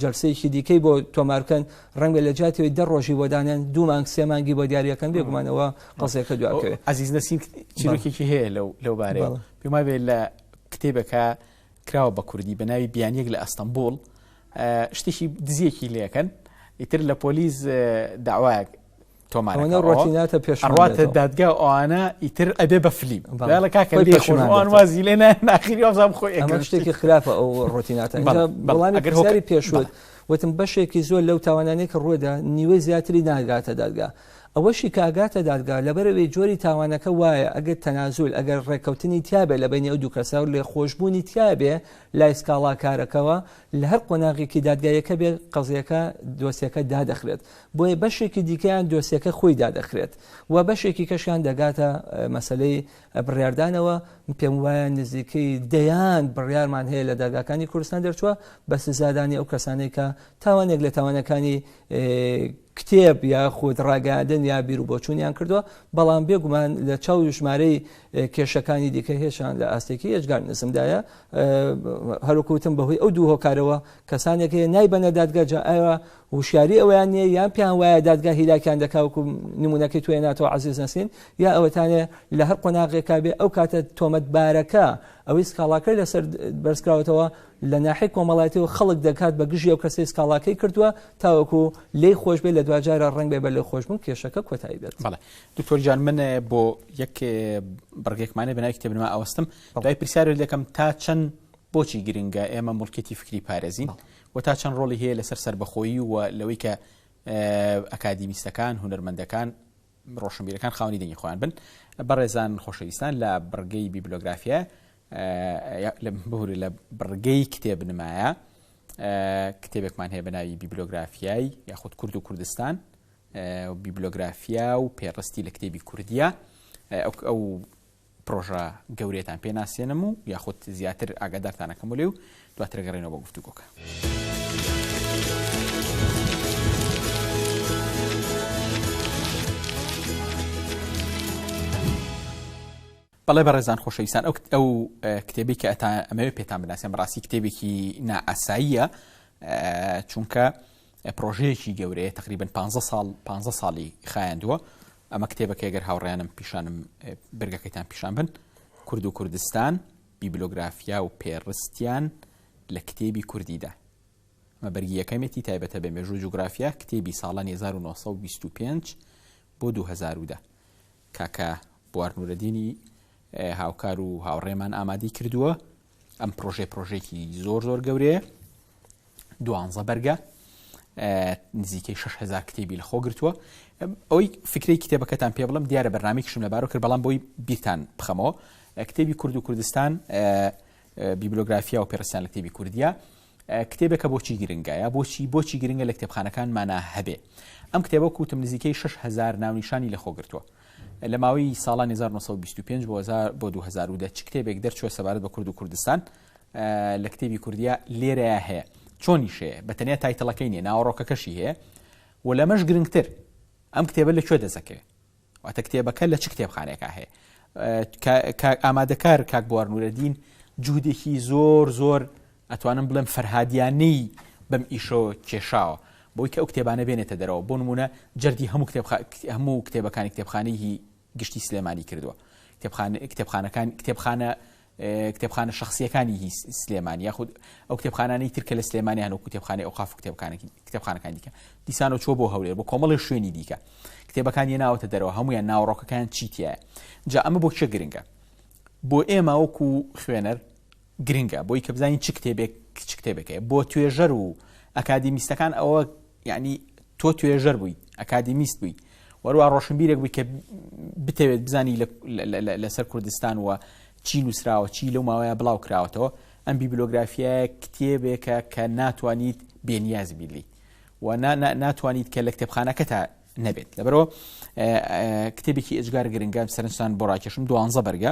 جەلسەیەکی دیکەی بۆ تۆمارکەن ڕەنگە لە جاتەوەی دە ڕۆژی بۆ دانێن دوو مانگ سێ مانگی بۆ دیارەکەن بێگومانەوە قەزیەکە دواکەوێت ئازیز نەسیم چیرۆکێکی هەیە لەو لەو بارەیە پێما بێت لە کتێبەکە کراوە بە کوردی بە ناوی بیانیەک لە ئەستەمبول شتێکی دزیەکی لەکەن ئیتر لە پۆلیس داوایەک تۆمارەکە ڕۆتیناتە پێش ئەڕاتە دادگا ئەوانە ئیتر ئەبێ بە فلیم بەڵە کاکە پێشمان وازی لێ ناخیری ئەزام خۆی ئەمە شتێکی خراپە ئەو ڕۆتیناتە بەڵانی گەرهۆکاری پێشوت وتم بەشێکی زۆر لەو تاوانانەی کە ڕوودا نیوەی زیاتری ناگاتە دادگا ئەوەشی کاگاتە دادگا لەبەرەوەی جۆری تاوانەکە وایە ئەگەر تەنازول ئەگەر ڕێککەوتنی تیاابێ لە بینی ئەو دوو کەسا و لێ خۆشببوونی تیاابێ لای سکاڵاکارەکەەوە لە هەر قۆناغێکی دادگایەکە بێت قەزیەکە دۆسیەکە دادەخرێت بۆیە بەشێکی دیکەیان دۆسیەکە خۆی دادەخرێت و بەشێکی کەشیان دەگاتە مەسلەی بڕاردانەوە پێم وایە نزیکەی دەیان بڕارمان هەیە لە داگاکانی کوردستان دەرچووە بە سزادانی ئەو کەسانێک کە تاوانێک لە تاوانەکانی کتێب یا خود ڕاگەاندن یا بیر و بۆچوونیان کردووە بەڵام بێگومان لە چاو ژمارەی کێشەکانی دیکە هێشان لە ئاستێکی هێشگار نزمدایە هەروکوتم بەهۆی ئەو دوو هۆکارەوە کەسانێک هەیە نایبەنە دادگەجا ئاوا وشیاری ئەوەیان نیە یان پێیان وایە دادگا هیلاکیان دەکا وەکو نمونونەکەی توێ ناتەوە عزیز نەسین یا ئەوەتانێ لە هەر قۆناغێکا بێ ئەو کاتە تۆمەت بارەکە ئەوەی سکاڵاکەی لەسەر بەرزکراوەتەوە لە ناحی کۆمەڵاتی و خەڵک دەکات بە گژی ئەو کەسی سکاڵاکەی کردووە تاوەکو لی خۆش بێ لە دواجارە ڕنگ بێ بە لە خۆشببوون کێشەکە کۆتایی بێت بەڵێ دکتۆر جان من بۆ یەک بڕگێکمانە بەنای کتێبنما ئەوەستم دوای پرسیار دەکەم تا چەند بۆچی گرنگە ئێمە مڵکێتی فکری پارێزین و تا چەند ڕۆڵی هەیە لەسەر سەربەخۆیی و لەوەی کە ئەکادیمیستەکان، هونەرمەندەکان، ڕۆشنبیرەکان خاوەنی دەنگی خۆیان بن. بەڕێزان خۆشەویستان لە بڕگەی بیبلۆگرافیا ببورە لە بڕگەی کتێبنمایە کتێبێکمان هەیە بە ناوی بیبلۆگرافیای یاخود کورد و کوردستان بیبلۆگرافیا و پێڕستی لە کتێبی کوردیە ئەو پڕۆژە گەورەیەتان پێ ناسێنم و یاخود زیاتر ئاگادارتان ئەکەمەوە لێی و دواتر ئەگەڕێینەوە بۆ گفتوگۆکە. بەڵێ بەڕێزان خۆشەویستان ئەو کت- ئەو اه، کتێبی کە ئەتا ئەمەوێت پێتان بناسێن بەڕاستی کتێبێکی نائاساییە اه، چونکە پرۆژەیەکی گەورەیە تقریبا پانزە ساڵ پانزە ساڵی خایاندووە ئەمە کتێبەکەی گەر هاوڕیانم پیشانم برگەکەیتان پیشان بن کورد و کوردستان بیبلۆگرافیا و پێڕستیان لە کتێبی کوردیدا مە بەرگی یەکەمێتی تایبەتە بە مێژوو جوگرافیا کتێبی ساڵانی 1925 بۆ 2010 کاکە بوارنورەدینی هاوکار و هاوڕێمان ئامادەی کردووە ئەم پرۆژەی پرۆژێکی زۆر زۆر گەورەیە دوانزە بەرگە نزیکەی 6هزار کتێبی لە خۆ گرتووە ئەوەی فکری کتێبەکەتان پێ بڵم دیارە بەنامێکشم لەبارۆ کرد بەڵام بۆی بیرتان بخەمەوە کتێبی کورد و کوردستان بیبلۆگرافیا و پێرسیان لە کتێبی کوردیا کتێبێکە بۆچی گرنگە یا بۆچی بۆچی گرنگە لە کتێبخانەکانمانە هەبێ ئەم کتێبە کوتم نزیکەی 6هزار ناونیشانی لە خۆگرتووە لە ماوەی ساڵانی 1925 بۆ 1000 بۆ 2010 چ کتێبێک دەرچووە سەبارەت بە کورد و کوردستان لە کتێبی کوردیا لێرەیە هەیە چۆنی شەیە بە تەنیا تایتەڵەکەی نیە ناوەڕۆکەکەشی هەیە و لەمەش گرنگتر ئەم کتێبە لە کوێ دەزەکەێ واتە کتێبەکە لە چ کتێبخانەیەکا هەیە؟ ئامادەکار کاک بوار نورەدین جوودێکی زۆر زۆر ئەتوانم بڵێم فەرهادیانەی بەم ئیشۆ کێشاوە بۆی کە ئەو کتێبانە بێنێتە دەرەوە بۆ نمونە جەردی هەموو کتێب هەموو کتێبەکانی کتێبخانەی گشتی سلێمانی کردووە کتێبخانەکان کتێبخانە کتێبخانە شەخسییەکانی سلێمانی یاخود ئەو کتێبخانانەی تر کە لە سلێمانی هەن و کتێبخانەی ئەوقاف و کتێبخانەکان دیکە دیسان و چۆ بۆ هەولێر بۆ کۆمەڵی شوێنی دیکە کتێبەکانی ناوەتە دەرەوە هەمویان ناوەڕۆکەکان چیتیە جا ئەمە بۆ چێ گرنگە بۆ ئێمە وەکو خوێنەر گرنگە بۆی کە بزانین چ کتێبێک چ کتێبەکەی بۆ توێژەر و ئەکادیمیستەکان ئەوە یەعنی تۆ توێژەر بووی، ئەکادیمیست بووی، وەروا ڕۆشنبیرێک بووی کە بتەوێت بزانی لەسەر کوردستان و چی نووسراوە، چی لەو ماوەیە بڵاو کراوەتەوە، ئەم بیبلۆگرافیایە کتێبێکە کە ناتوانیت بێنیاز بیت لێی و ناتوانیت کە لە کتێبخانەکەتا نەبێت، لەبەرەوە کتێبێکی ئێجگار گرنگە، سەرنجتان بۆ ڕاکێشم، دوانزە بەرگە،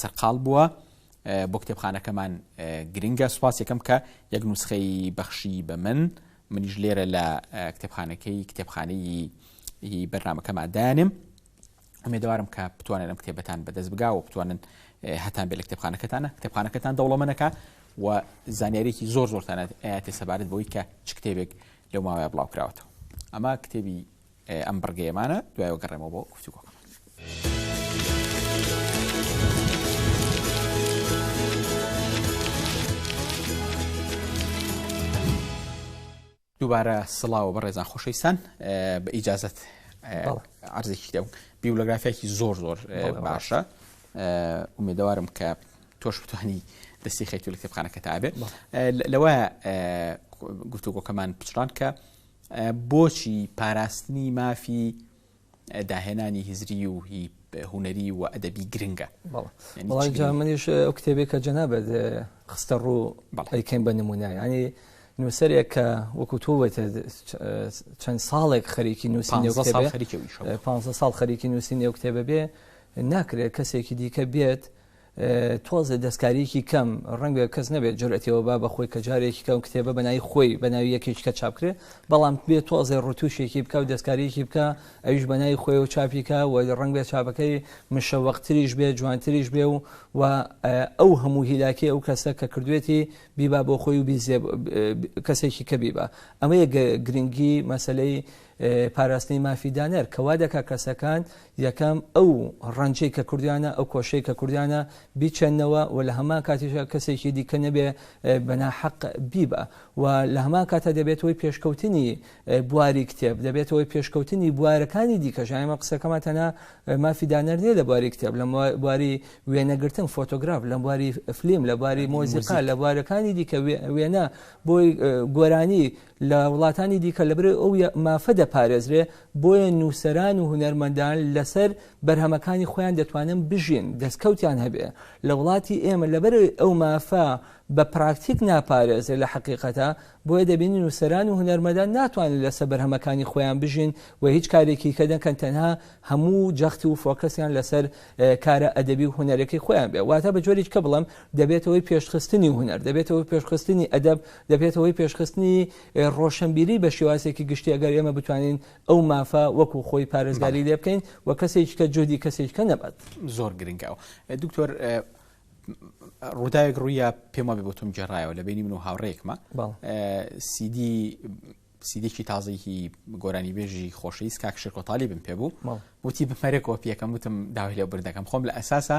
سەرقاڵ بووە بۆ کتێبخانەکەمان گرنگە سوپاس یەکەم کە یەک نوسخەی بەخشی بە من منیش لێرە لە کتێبخانەکەی کتێبخانەی بەرنمەکەمان دانم ئەمێدەوارم کە بتوانن ئەم کتێبەتان بەدەست بگا و بتوانن هەتان بێ لە کتێبخانەکەتانە کتێبخانەکەتان دەوڵەمەنەکە و زانیارێکی زۆر زۆرتانە ئاتی سەبارەت بۆی کە چ کتێبێک لەو ماوەیە بڵاوکراوەتەوە ئەمە کتێبی ئەم بڕگەیەمانە دوای وەگەڕێمەوە بۆ گفتوگۆکەمان. دووبارە سڵاوە بە ڕێزان خۆشەویستان بە ئیجازت ئارزێکی دەم بیولەگرافیاکی زۆر زۆر باشە ئومێدەوارم کە تۆش بتوانی دەستی خەیتو لە کتێبخانەکە تابێت لەوە گفتوگۆکەمان پچڕان کە بۆچی پاراستنی مافی داهێنانی هزری و هی هونەری و ئەدەبی گرنگە منیش ئەو کتێبێک کە جەنابەت خستە ڕوو بەڵیکەین بە نمونە ینی نووسەرێک کە وەکو تۆوەێت چەند ساڵێک خەریکی نووسی پ ساڵ خەریکی نووسی نێو کتێبە بێ ناکرێت کەسێکی دیکە بێت تۆزێ دەستکارییەکی کەم، ڕەنگە کەس نەبێت جورئەتی ئەوە با بەخۆی کە جارێکی کە ئەو کتێبە بە ناوی خۆی بە ناوی یەکێکی کە چاپ کرێ، بەڵام بێ تۆزێ ڕتووشێکی بکا و دەستکارییەکی بکا ئەویش بە ناوی خۆیەوە چاپی کا و ڕەنگ بێ چاپەکەی مشەوەقتریش بێ جوانتریش بێ و و ئەو هەموو هیلاکەی ئەو کەسە کە کردوێتی بیبا بۆ خۆی و بیزێ کەسێکی کە بیبا ئەمەیە گرنگی مەسەلەی پاراستنی مافی دانەر کە وا دەکات کەسەکان یەکەم ئەو ڕەنجەی کە کردویانە ئەو کۆشەی کە کردویانە بیچەنەوە و لە هەمان کاتیشە کەسێکی دیکە نەبێ بەنا حەق بیبە و لە هەمان کاتە دەبێتەوەی پێشکەوتنی بواری کتێب دەبێتەوەی پێشکەوتنی بوارەکانی دیکەژایمە قسەکەمان تەنا مافی دانەر نیە لە بواری کتێب لە بواری وێنەگرتن فۆتۆگراف لە بواری فلیم لە بواری مۆزیقا لە بوارەکانی دیکە وێنە بۆی گۆرانی لە وڵاتانی دیکە لەبەرئ ئەو مافە دەپارێزرێ، بۆیە نووسەران و هونەرمەندان لەسەر بەرهەمەکانی خۆیان دەتوانن بژین، دەستکەوتیان هەبێ. لە وڵاتی ئێمە لەبەرئ ئەو مافە بە پراکتیک ناپارێزرێ لە حەقیقەتا، بۆیە دەبینین نووسەران و هونەرمەدان ناتوانن لەسەر بەرهەمەکانی خۆیان بژین و هیچ کارێکی کە دەکەن تەنها هەموو جەخت و فۆکەسیان لەسەر کارە ئەدەبی و هونەرەکەی خۆیان بێ. واتە بە جۆرێکی کە بڵێم دەبێتەوەی پێشخستنی هونەر، دەبێتەوەی پێشخستنی ئەدەب دەبێتە هۆی پێشخستنی ڕۆشەنبیری بە شێوازێکی گشتی ئەگەر ئێمە بتوانین ئەو مافە وەکو خۆی پارێزگاری لێ بکەین و کەسێکیکە جۆدی کەسێککە نەبات زۆر گرنگە دکتۆر ڕووداوێک ڕوویە پێم وابێ بۆ تۆم جێڕایەوە لە بینی من و هاوڕێکمە سیدی سیدێکی تازەیەکی گۆرانی بێژی خۆشەویست کاکشێکۆتالی بم پێ بوو وتی بمەرێکەوە پێەکەم وتم داوای لێ بردەکەم خۆم لە ئەساسە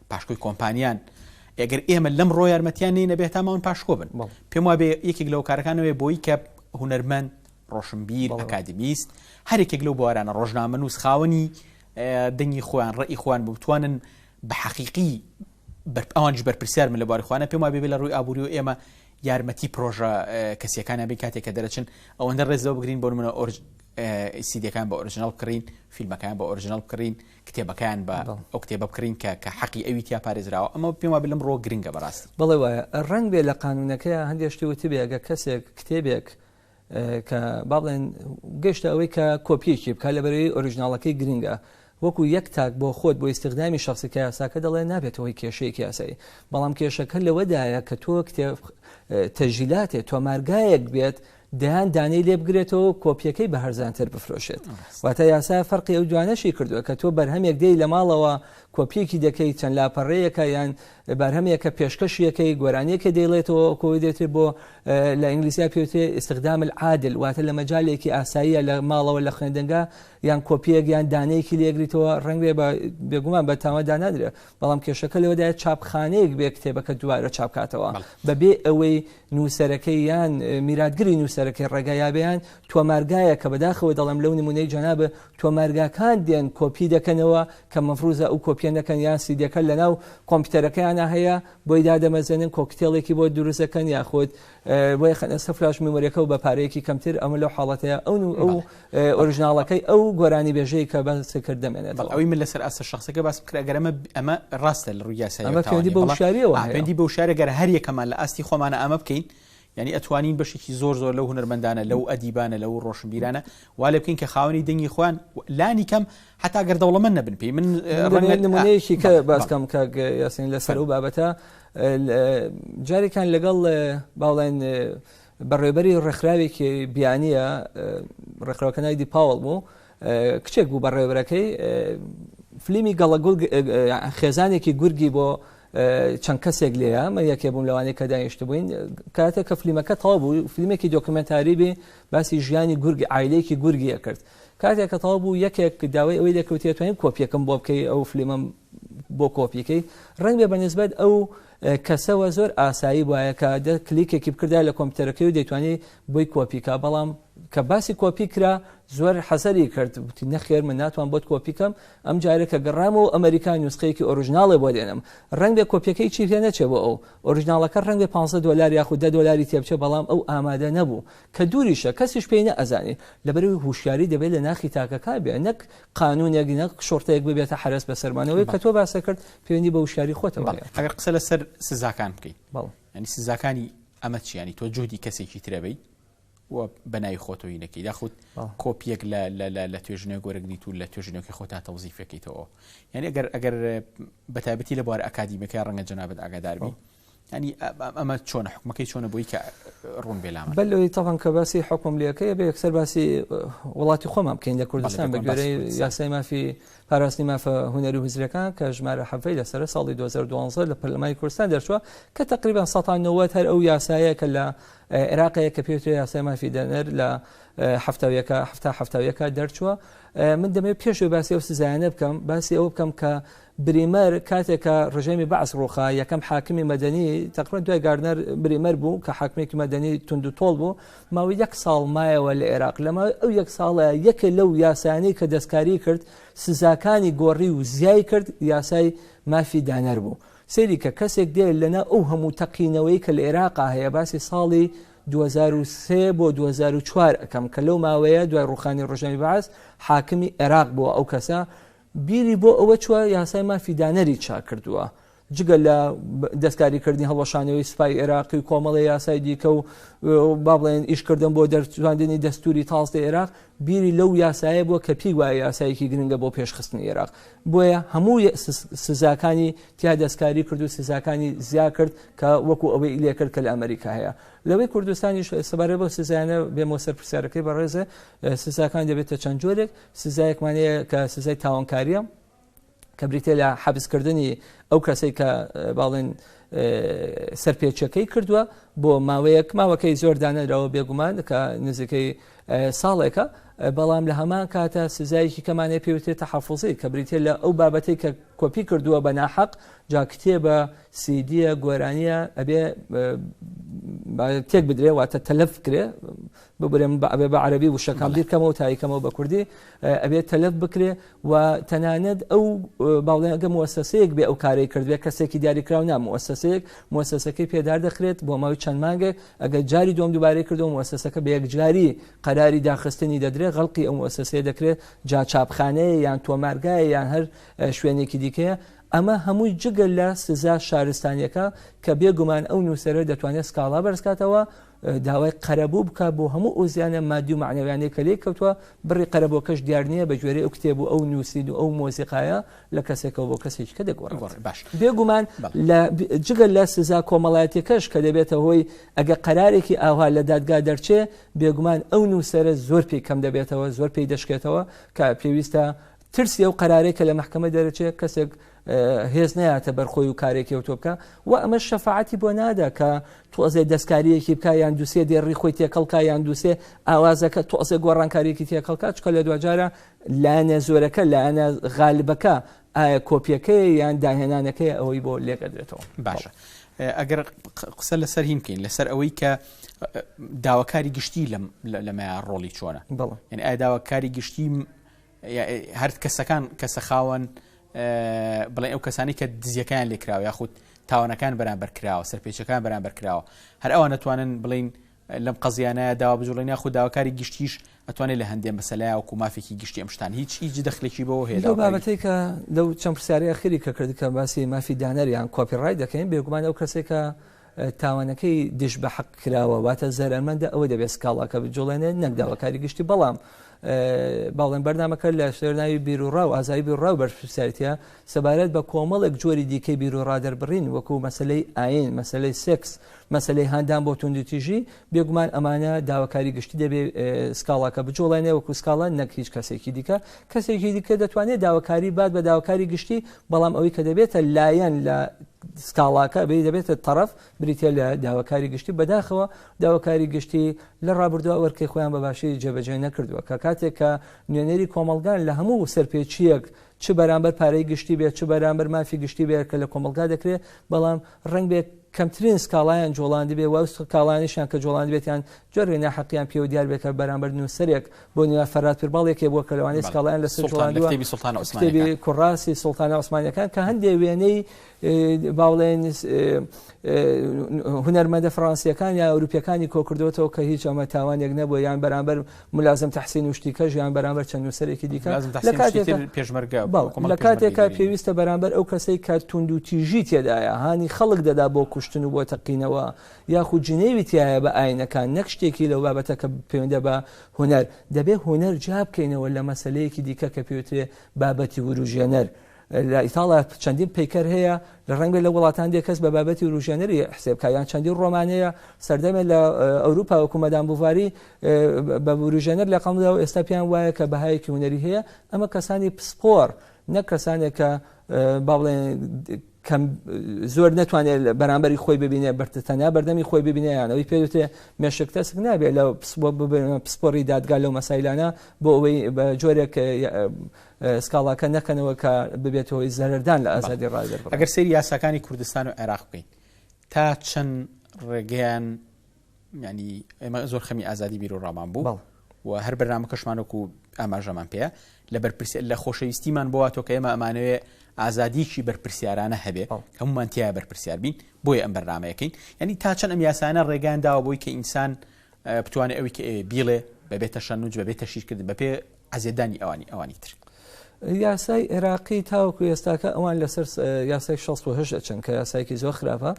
پاشکۆی کۆمپانیان ئەگەر ئێمە لەم ڕۆ یارمەتیان نینە بێت تاماون پاشکۆ بن پێم وابێ یەکێک لەو کارەکانەوەی بۆی کە هوەرمەند ڕۆشنبیر ئەکادمیست هەرێکێک لەو بوارانە ڕۆژنامە نووس خاوەنی دەنگی خۆیان ڕێی خۆیان بتوانن بە حەقیقی ئەوانش بەرپرسیار من لە باری خوانە پێم وابێ لە ڕووی ئابووری و ئێمە یارمەتی پرۆژە کەسیەکانە بێ کاتێک کە دەرەچن ئەوەندە ڕێزەوە بگرین بۆ منە ئۆرج سیدەکان بە ئۆرژنال بکڕین فیلمەکان بە ئۆرژنال بکڕین کتێبەکەیان بە ئەو کتێبە بکڕین کە کە حەقی ئەوی تیا پارێزراوە ئەمە پێم وابێ لەم ڕۆ گرنگە بەڕاستی بەڵێ وایە ڕەنگ بێ لە قانونەکەیان هەندێک شتی وتبێ ئەگە کەسێک کتێبێک کە با بڵێن گەشتە ئەوەی کە کۆپیەکی بکە لە بەرەی ئۆریژناڵەکەی گرنگە وەکو یەک تاک بۆ خۆت بۆ ئیسیغدامی شخصی کە یاساکە دەڵێ نابێتەوەی کێشەیەکی یاسایی بەڵام کێشەکە لەوەدایە کە تۆ کتێب تەژیلاتێ تۆمارگایەک بێت دەیان دانەی لێ بگرێتەوە و کۆپیەکەی بە هەرزانتر بفرۆشێت واتە یاسا فەرقی ئەو دوانەشی کردووە کە تۆ بەرهەمێک دێی لە ماڵەوە کۆپیەکی دەکەی چەند لاپەڕەیەەکە یان بەرهەمێکە پێشکەشیەکەی گۆرانیەکە دەیڵێتەوە کۆی دێتێ بۆ لە ئینگلیسیا پێوتێ ئستخدام عادل واتە لە مەجالێکی ئاساییە لە ماڵەوە لە خوێندنگە یان کۆپیەک یان دانەیەکی لێگریتەوە ڕەنگێ بە بێگومان بە تاوەدا نادرێت بەڵام کێشەکە لەوەدایە چاپخانەیەک بێ کتێبەکە دووارە چاپکاتەوە بەبێ ئەوەی نووسەرەکەی یان میراتگری نووسەرەکەی ڕێگایابیان تۆمارگایە کە بەداخەوە دەڵم لەو نمونەی جەنابە تۆمارگاکان دێن کۆپی دەکەنەوە کە مەفروزە ئەو کۆپیە نەکەن یان سیدەکە لەناو کۆمپیوتەرەکەیانە هەیە بۆی دادەمەزێنن کۆکتێڵێکی بۆ دروستەکەن یاخود بۆیە خەنە سە فلاش میمۆریەکە و بە پارەیەکی کەمتر ئەمە لەو حاڵەتەیە ئەو ئەو ئۆریژناڵەکەی ئەو گۆرانی بێژەی کە بەسە کرد دەمێنێت ئەوی من لەسەر ئاسە شخصەکە باس کرد گەر ئەمە ئەمە ڕاستە لە ڕووی یاسایەوەندی بە شاریەوە پێندی بە شارە گەر هەر یەکەمان لە ئاستی خۆمانە ئەمە بکەین ینی ئەتوانین بەشێکی زۆر زۆر لەو هنەرمەندانە لەو ئەدیبانە لەو ڕۆشنبیرانە وا لە بکەین کە خاوەنی دەنگی خۆیان لانی کەم حتا گەردەوڵەمە نەبن پێی من ڕێنمونەیەکی کە باسکەم کە یاسین لەسەر و بابەتە جارێکیان لەگەڵ باڵێن بەڕێبەری ڕێکخراوێکی بیانیە ڕێکخراوەکە ناوی دی پاوەڵ بوو کچێک بوو بەڕێبەرەکەی فلیمی گەڵە خێزانێکی گورگی بۆ چەند کەسێک لێە من یەکێ بووم لەوانەیە کە دانیشت بووین کاتێ کە فلیمەکە تەوا بوو فلیمێکی دۆکمنتاری بێ باسی ژیانی گورگی ئایلێکی گورگیە کرد کاتێک کە تەوا بوو یەکێک داوای ئەوەی لەکەوتێتوانین کۆپیەکەم بۆ بکەی ئەو فلیمم بۆ کۆپیکەی ڕەنگبێ بە نسبەت ئەو کەسەوە زۆر ئاسایی وایە کە دە کلیکێکی بکردا لە کۆمپیوتەرەکەی و دەیتوانی بۆی کۆپیکە بەڵام کە باسی کۆپی کرا زۆر حەزەری کرد وتی نەخێر من ناتوان بۆت کۆپیکەم ئەم جارە کە گەڕام و ئەمریکا نووسقەیەکی ئۆریژناڵێ بۆ دێنم ڕنگ بێ کۆپیەکەی چی هێ نەچێ بۆ ئەو ئۆریژناڵەکە ڕنگ بێ 15 دلار یاخود دە دلاری تێبچێ بەڵام ئەو ئامادە نەبوو کە دووریشە کەسیش پێی نەئەزانی لەبەروی هوشیاری دەبێت لە ناخی تاکەکان بێ نەک قانونێک نەک شۆرتەیەک ببێتە حرەس بەسەرمان ئەوەی کە تۆ باسە کرد پەیوەندی بە وشیاری خۆتەوە ئەگەر قسە لەسەر سزاکان بکەیت بەڵ ینی سزاکانی ئەمە چیانی تۆ جوودی کەسێکی ترەبەی و بەناوی خۆتەوەی نەکەی داخود کۆپیەک لە توێژنە گۆرەگریت و لە توێژنەکە خۆتا تەوزیفەکەیتەوە یعنی ئەگەر ئەگەر بەتابەتی لە بوار ئەکادیمەکە ڕەنگە جەنابەت ئاگاداربی ینی ئەمە چۆن حکومەکەی چۆنە بۆی کە ڕوون بێلام بەلەوەی تاوان کە باسی حکوم لەکەی بە یەکسەر باسی وڵاتی خۆمان بکەین لە کوردستان بە گوێرەی یاسای مافی پاراستنی مافە هوەری و هزرەکان کە ژمارە حەفەی لەسەر ساڵی 2012 لە پەرلەمای کوردستان دەرچووە کە تقریبان 1970 هەر ئەو یاسایە کە لە عێراقەیە کە پێوتری یاسای مافی دەنەر لە هەفتاویەکە هەفتا هەفتاویەکە دەرچووە من دەمێت پێشێ باسی ئەو سزایانە بکەم باسی ئەو بکەم کە بریمەر کاتێک کە ڕژێمی بەعس ڕووخا، یەکەم حاکمی مەدەنی، تەقریبەن دوای گاردنەر، بریمەر بوو کە حاکمێکی مەدەنی توندوتۆڵ بوو، ماوەی یەک ساڵ مایەوە لە ئێراق، لە ماوەی ئەو یەک ساڵە یەکێ لەو یاسایانەی کە دەستکاریی کرد، سزاکانی گۆڕی و زیای کرد، یاسای مافی دانەر بوو. سەیری کە کەسێک دێ لەناو ئەو هەموو تەقینەوەی کە لە ئێراقا هەیە، باسی ساڵی دوو هەزار و سێ بۆ دوو هەزار و چوار ئەکەم کە لەو ماوەیە دوای ڕووخانی ڕژێمی بەعس حاکمی ئێراق بووە ئەو کەسە، بیری بۆ ئەوە چووە یاسای مافی دانەری چاک کردووە، جگە لە دەستکاریکردنی هەڵوەشانەوەی سوپای عێراقی و کۆمەڵی یاسای دیکە و با بڵێن ئیشکردن بۆ دەرچواندنی دەستوری تازدە عێراق بیری لەو یاسایە بووە کە پێی وایە یاسایەکی گرنگە بۆ پێشخستنی عێراق بۆیە هەموو سزاکانی تیا دەستکاری کرد و سزاکانی زیا کرد کە وەکو ئەوەی لێکرد کە لە ئەمریکا هەیە لەوەی کوردستانی سەبارە بۆ سزانە بێمەوە سەر پرسیارەکەی بەڕێزە سزاکان دەبێتە چەند جۆرێک سزایەکمان هەیە کە سزای تاوانکاریە کە بریتە لە حەبسکردنی ئەو کەسەی کە باڵێن سەرپێچەکەی کردووە بۆ ماوەیەک ماوەکەی زۆر دانەرەوە بێگومان کە نزیکەی ساڵێکە بەڵام لە هەمان کاتە سزایەکی کەمانێ پێوتێتە حەفوزی کە بریتە لە ئەو بابەتی کە کۆپی کردووە بە ناحەق جا کتێبە سیدیە گۆرانیە ئەبێ تێک بدرێ واتە تەلەف کرێ ببرێم ئەبێ بە عەربی وشەکان بیرکەمەوە تایکەمەوە بە کوردی ئەبێت تەلەف بکرێ و تەنانەت ئەو باڵێنگە موەسەسەیەک بێ ئەو کارەی کردێ کەسێکی دیاریکراو نا موەسەسەیەک موەسەسەکەی پێدار دەخرێت بۆ ماوەی چەند مانگێک ئەگەر جاری دوم دووبارەی کردەوە موەسەسەکە بە یەکجاری قەراری داخستنی دەدرێ غەڵقی ئەو موەسەسەیە دەکرێت جا چاپخانەیە یان تۆمارگایە یان هەر شوێنێکی دیکەیە ئەمە هەمووی جگە لە سزا شارستانیەکە کە بێگومان ئەو نووسەرە دەتوانێت سکاڵا بەرزکاتەوە داوای قەرەبوو بکات بۆ هەموو ئەو زیانە مادی و مەعنەویانەی کە لێی کەوتووە، بڕی قەرەبووەکەش دیار نییە، بە گوێرەی ئەو کتێب و ئەو نووسین و ئەو مۆسیقایە لە کەسێکەوە بۆ کەسێکی کە دەگۆڕێت. باش بێگومان جگە لە سزا کۆمەڵایەتیەکەش کە دەبێتە هۆی ئەگە قەرارێکی ئاوها لە دادگا دەرچێ، بێگومان ئەو نووسەرە زۆر پێی کەم دەبێتەوە، زۆر پێی دەشکێتەوە کە پێویستە ترسی ئەو قەرارەی کە لە مەحکەمە دەرەچێت کەسێک هێز نەیاتە بەرخۆی و کارێکی ئەوتۆ بکە و ئەمە شەفاعتی بۆ نادا کە تۆزێ دەستکاریەکی بکە یان دوسێ دێڕی خۆی تێکەڵکە یان دوسێ ئاوازەکە تۆزێ گۆڕانکاریەکی تێکەڵکە چکە لە دواجارە لایەنە زۆرەکە لایەنە غالبەکە ئایا کۆپیەکەی یان داهێنانەکەی ئەوەی بۆ لێکەدرێتەوە باشە. ئەگەر قسە لەسەر هیم بکەین لەسەر ئەوەی کە داواکاری گشتی لەمە ڕۆڵی چۆنە بڵێ یعنی ئایا داواکاری گشتی هەر کەسەکان کەسە خاوەن بڵێ ئەو کەسانی کە دزیەکان لێکراوە یاخود تاوانەکان بەرامبەر کراوە سەرپێچەکان بەرامبەر کراوە هەر ئەوان نتوانن بڵین لەم قەزیانە داوا بجوڵێنە خودداواکاری گشتیش ئەتوانێت لە هەندێ مەسەلای وکو مافێکی گشتی ئەمشتان هیچ هیچ دەخلێکی بەوە هەیە لەو بابەتی کە لەو چەند پرسیاری ئەخری کە کرد کە باسی مافی دانەریان کۆپی ڕای دەکەین بێگومان ئەو کەسێکە تاوانەکەی دژ بە حەق کراوە واتە زەرمەندە ئەوە دەبێت سکاڵاکە بجوڵێنێت نەک داواکاری گشتی بەڵام باڵێن بەرنمەکە لە شێرناوی بیرروڕا و ئازای بیرڕا و بەرپسیارەتە سەبارەت بە کۆمەڵێک جۆری دیکەی بیرروڕا دەربڕین وەکو مەسلەی ئاین مەسلەی سکس مەسلەی هاندان بۆ توندتیژی بێگومان ئەمانە داواکاری گشتی دەبێ سکاڵاکە بجوڵێنێ وەکو سکاڵە نەک هیچ کەسێکی دیکە کەسێکی دیکە دەتوانێت داواکاری بات بە داواکاری گشتی بەڵام ئەوەی کە دەبێتە لایەن لە سکاڵاکە بێ دەبێتە تەرەف بریتە لە داواکاری گشتی بەداخەوە داواکاری گشتی لە ڕابردووە وەرکەی خۆیان بەباشی جێبەجێ نەکردووە کە کاتێک کە نوێنەری کۆمەلگان لە هەموو سەرپێچیەک چ بەرامبەر پارەی گشتی بێت چ بەرامبەر مافی گشتی بێت کە لە کۆمەلگا دەکرێت بەڵام ڕەنگبێ کەمترین سکاڵایان جۆڵاندبێ و ئەو سکاڵانیشیان کە جۆڵاندبێتیان جۆرێ ناحەقیان پێوە دیار بێت کە بەرامبەر نووسەرێک بۆ نوێ فەراد پیرباڵ یەکێ بووە کە لەوانەیە سکاڵایان لە سەر جۆڵاندوە کتێبی سوڵتانە عوسمانیەکان کتێبی کوڕاسی سوڵتانە عوسمانیەکان کە هەندێ وێنەی باوڵێن هونەرمەندە فڕانسیەکان یا ئەوروپیەکانی کۆکردوێتەوە کە هیچ ئەمە تاوانێک نەبووە یان بەرامبەر ملازم تحسین و شتی کەژیان بەرامبەر چەند نووسەرێکی دیکە لە کاتێکتر پێشمەرگە لە کاتێکا پێویستە بەرامبەر ئەو کەسەی کە توند و تیژی تێدایە هانی خەڵک دەدا بۆ کوشتن و بۆ تەقینەوە یاخود جنێوی تایە بە ئاینەکان نەک شتێکی لەو بابەتە کە پەیوەندە بە هوەر دەبێ هوەر جیا بکەینەوە لە مەسلەیەکی دیکە کە پێوترێ بابەتی وروژێنەر لە ئیتاڵا چەندین پەیکەر هەیە، لە ڕەنگبێت لە وڵاتان دێ کەس بە بابەتی وروژێنەری حسێ بکا، یان چەندین ڕۆمان هەیە سەردەمێ لە ئەوروپا وەکو مەدام بوڤاری بە وروژێنەر لەقەمدراو ئێستا پێیان وایە کە بەهایەکی هونەری هەیە، ئەمە کەسانی پسپۆڕ نەک کەسانێک کە با بڵێن کەم زۆر نەتوانێت بەرامبەری خۆی ببینێ بەرتە تەنیا بەردەمی خۆی ببینێ یان ئەوی پێوتێ مێشک تەسک نابێت لە پسپۆڕی دادگا لەو مەسایلانە بۆ ئەوەی بە جۆرێک سکاڵاکە نەکەنەوە کە ببێتە هۆی زەرەردان لە ئازادی ڕای دەربڕین. ئەگەر سەیری یاساکانی کوردستان و عێراق بکەین تا چەند ڕێگەیان ینی ئێمە زۆر خەمی ئازادی بیر و ڕامان بوو و هەر بەرنامە کەشمانۆک و ئاماژەمان پێ لە بەرپرسی لە خۆشەویستیمان بۆ تۆ کە ئێمە ئەمانەوێ ئازادیکی بەرپرسیارانە هەبێ هەمومان تیا بەرپرسیار بین بۆی ئەم بەرنمەیەکەین ینی تا چەند ئەم یاسانە ڕێگان داوە بۆی کە ئینسان بتوانێت ئەوی کە ئێ بیڵێ بەبێتە شەنوج بەبێتە شیرکرد بەپێ عەزێتدانی ئەوانی ئەوانی تر. یاسای عێراقی تاوەکو ئێستاکە ئەوان لەسەر یاسای 16 ئەچن کە یاسایکی زۆر خراپە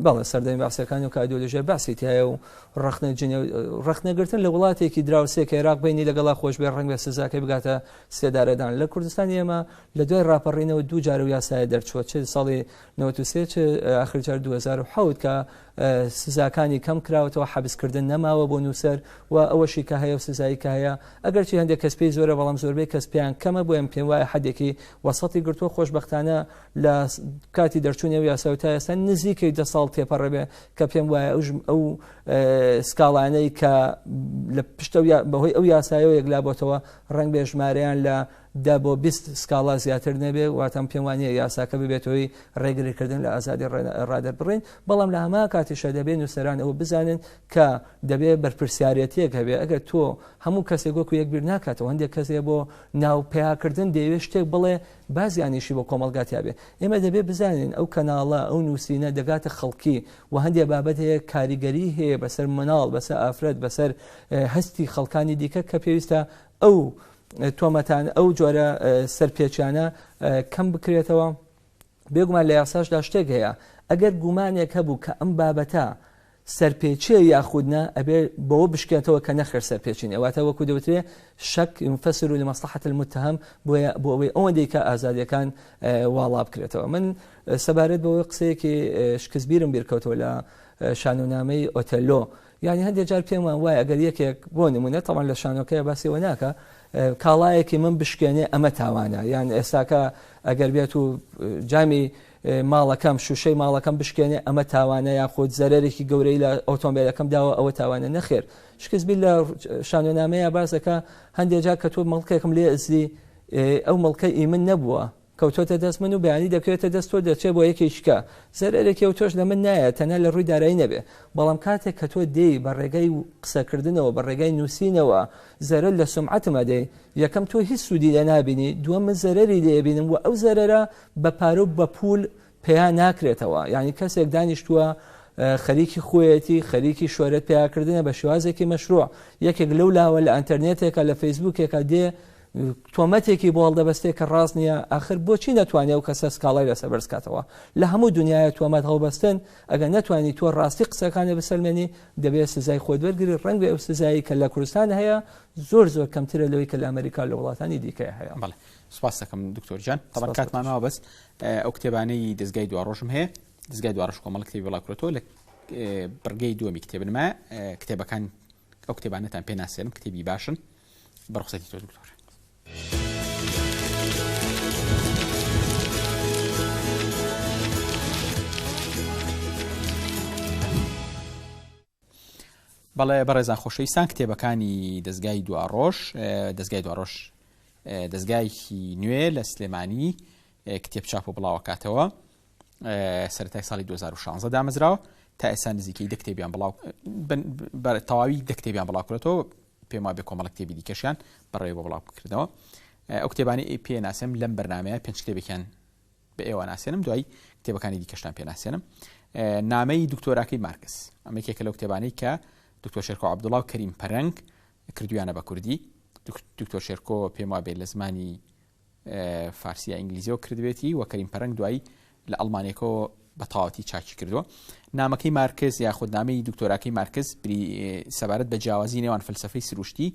بەڵێ سەردەمی باسەکانی و کادۆلژە باسی تایە و ڕخنە جنێ ڕخنەگرتن لە وڵاتێکی دراوسێک عێراق بینی لەگەڵا خۆش بێ ڕنگ بە سزاکە بگاتە سێدارەدان لە کوردستان ئێمە لە دوای ڕاپەڕینەوە دوو جار و یاسایە دەرچووە چ ساڵی 93 آخر جار 2010 کە سزاکانی کەم کراوەتەوە حەبسکردن نەماوە بۆ نووسەر و ئەوەشی کە هەیە و سزایی کە هەیە ئەگەرچی هەندێک کەس پێی زۆرە بەڵام زۆربەی کەس پێیان کەمە بۆیان پێم وایە حدێکی وەسەتی گرتووە خۆشببختانە لە کاتی دەرچوونی و یاسا تا ئێستا نزیکەی دە ساڵ تێپەڕێبێ کە پێم وایە ئەو ئەو سکاڵانەی کە لە پشتە بەهۆی ئەو یاسایەوە یەکلا بۆتەوە ڕنگ بێژمارەیان لە دە بۆ بیست سکاڵا زیاتر نەبێت، واتە من پێم وانییە یاساکە ببێتە هۆی ڕێگریکردن لە ئازادی ڕادەربڕین، بەڵام لە هەمان کاتیشدا دەبێت نووسەران ئەوە بزانن کە دەبێت بەرپرسیارێتییەک هەبێت، ئەگەر تۆ هەموو کەسێک وەکو یەک بیر ناکاتەوە، هەندێک کەس هەیە بۆ ناو پیاکردن دەیەوێت شتێک بڵێ با زیانیشی بۆ کۆمەڵگا تیا بێت، ئێمە دەبێت بزانین ئەو کەناڵە، ئەو نووسینە دەگاتە خەڵکی و هەندێک بابەت هەیە کاریگەریی هەیە بەسەر منداڵ، بەسەر ئافرەت، بەسەر هەستی خەڵکانی دیکە کە پێویستە ئەو تۆمەتان ئەو جۆرە سەرپێچیانە کەم بکرێتەوە بێگومان لە یاساشدا شتێک هەیە ئەگەر گومانێک هەبوو کە ئەم بابەتە سەرپێچێ یاخودنا ئەبێ بەوە بشکێتەوە کە نەخێر سەرپێچین ئەواتە وەکو دەوترێ شک فەسر و لە مەسلحەت المتهم بۆیە بۆ ئەوەی ئەوەندەی کە ئازادیەکان واڵا بکرێتەوە من سەبارەت بەوەی قسەیەکی شکستبیرم بیرکەوتەوە لە شانۆنامەی ئۆتەلۆ یانی هەندێک جار پێمان وایە ئەگەر یەکێک بۆ نمونە تەوان لە شانۆکەیە باسیەوە ناکە کاڵایەکی من بشکێنێ ئەمە تاوانە یان ئێستاکە ئەگەر بێت و جامی ماڵەکەم شوشەی ماڵەکەم بشکێنێ ئەمە تاوانە یاخود زەرێکی گەورەی لە ئۆتۆمبیلەکەم داوە ئەوە تاوانە نەخێر شکستبی لە شانۆنامەیە باسەکە هەندێک جار کە تۆ مەڵکێکم لێ ئەزی ئەو مەڵکە ئی من نەبووە کەوتۆتە دەست من و بەیانی دەکەوێتە دەست تۆ دەچێ بۆ یەکێکیکە زەرەرێکی و تۆش لە من نایە تەنە لە ڕووی دارایی نەبێ بەڵام کاتێک کە تۆ دێی بە ڕێگای قسەکردنەوە بە ڕێگای نووسینەوە زەرەر لە سومعەتم ئەدەی یەکەم تۆ هیچ سوودی لێ نابینی دووەم من زەرەری لێ ئەبینم وە ئەو زەرەرە بە پارە و بە پوول پیا ناکرێتەوە یانی کەسێک دانیشتووە خەریکی خۆیەتی خەریکی شۆرەت پیاکردنە بە شێوازێکی مەشروع یەکێک لەو لاوە لە ئەتەرنێتێکە لە فەیسبوکێکە دێ تۆمەتێکی بۆڵ دەبەستێک کە ڕاست نییە ئاخر بۆچی ناتوانێت و کەسە سکاڵای لەسەر بەرزکاتەوە لە هەموو دنیاە تۆمەت هەڵبەستن ئەگەر نتوانانی تۆ ڕاستی قسەکانە بسەلمێنی دەبێت سزای خۆت وەرگری ڕنگ بێ ئەو سزایی کە لە کوردستان هەیە زۆر زۆر کەمترە لەوەی کە لە ئەمریکا لە وڵاتانی دیکە هەیە سپاس دەکەم دکتۆر جان تەبەن سپاس کاتمان دکتۆر. ماوە بەس ئە، ئەو کتێبانەی دەستگای دواڕۆژم هەیە دەستگای دواڕش کۆمەڵ کتێبی بڵاکرێتەوە لە ئە، بڕگەی دووەمی کتێبنما ئە، کتێبەکان ئەو کتێبانەتان پێ ناسێنم کتێبی باشن بەڕخسەتی تۆ دکتۆر بەڵێ بەڕێزان خۆشەویستان کتێبەکانی دەستگای دواڕۆژ دەستگای دواڕۆژ دەستگایکی نوێ لە سلێمانی کتێب چاپ و بڵاوکاتەوە سەرای ساڵی 2016 دامەزراوە تا ئێستا نزیکەی دە کتێبیان بڵاو تەواوی دە کتێبیان بڵاوکرێتەوە پێما بێ کۆمەڵ کتێبی دیکەشیان بەڕێوە بڵاوکردەوە ئەو کتێبانی پێ ناسم لەم بەرنمەیە پێنج کتێبێکیان بە ئێوە ناسێنم دوای کتێبەکانی دیکەشتان پێ ناسێنم نامەی دکتۆراکەی مارکس ئەمە یەکێکە لەو کتێبانەی کە دکتۆر شێرکۆ عبدوڵا و کەریم پەرەنگ کردویانە بە کوردی دکتۆر شێرکۆ پێم وابێت لە زمانی فارسیە ئینگلیزیەوە کردوێتی وە کەریم پەرەنگ دوایی لە ئەڵمانێکەوە بە تاواتی چاکی کردووە نامەکەی مارکز یاخود نامی دکتۆراکەی مارکز سەبارەت بە جیاوازی نێوان فلسفەی سروشتی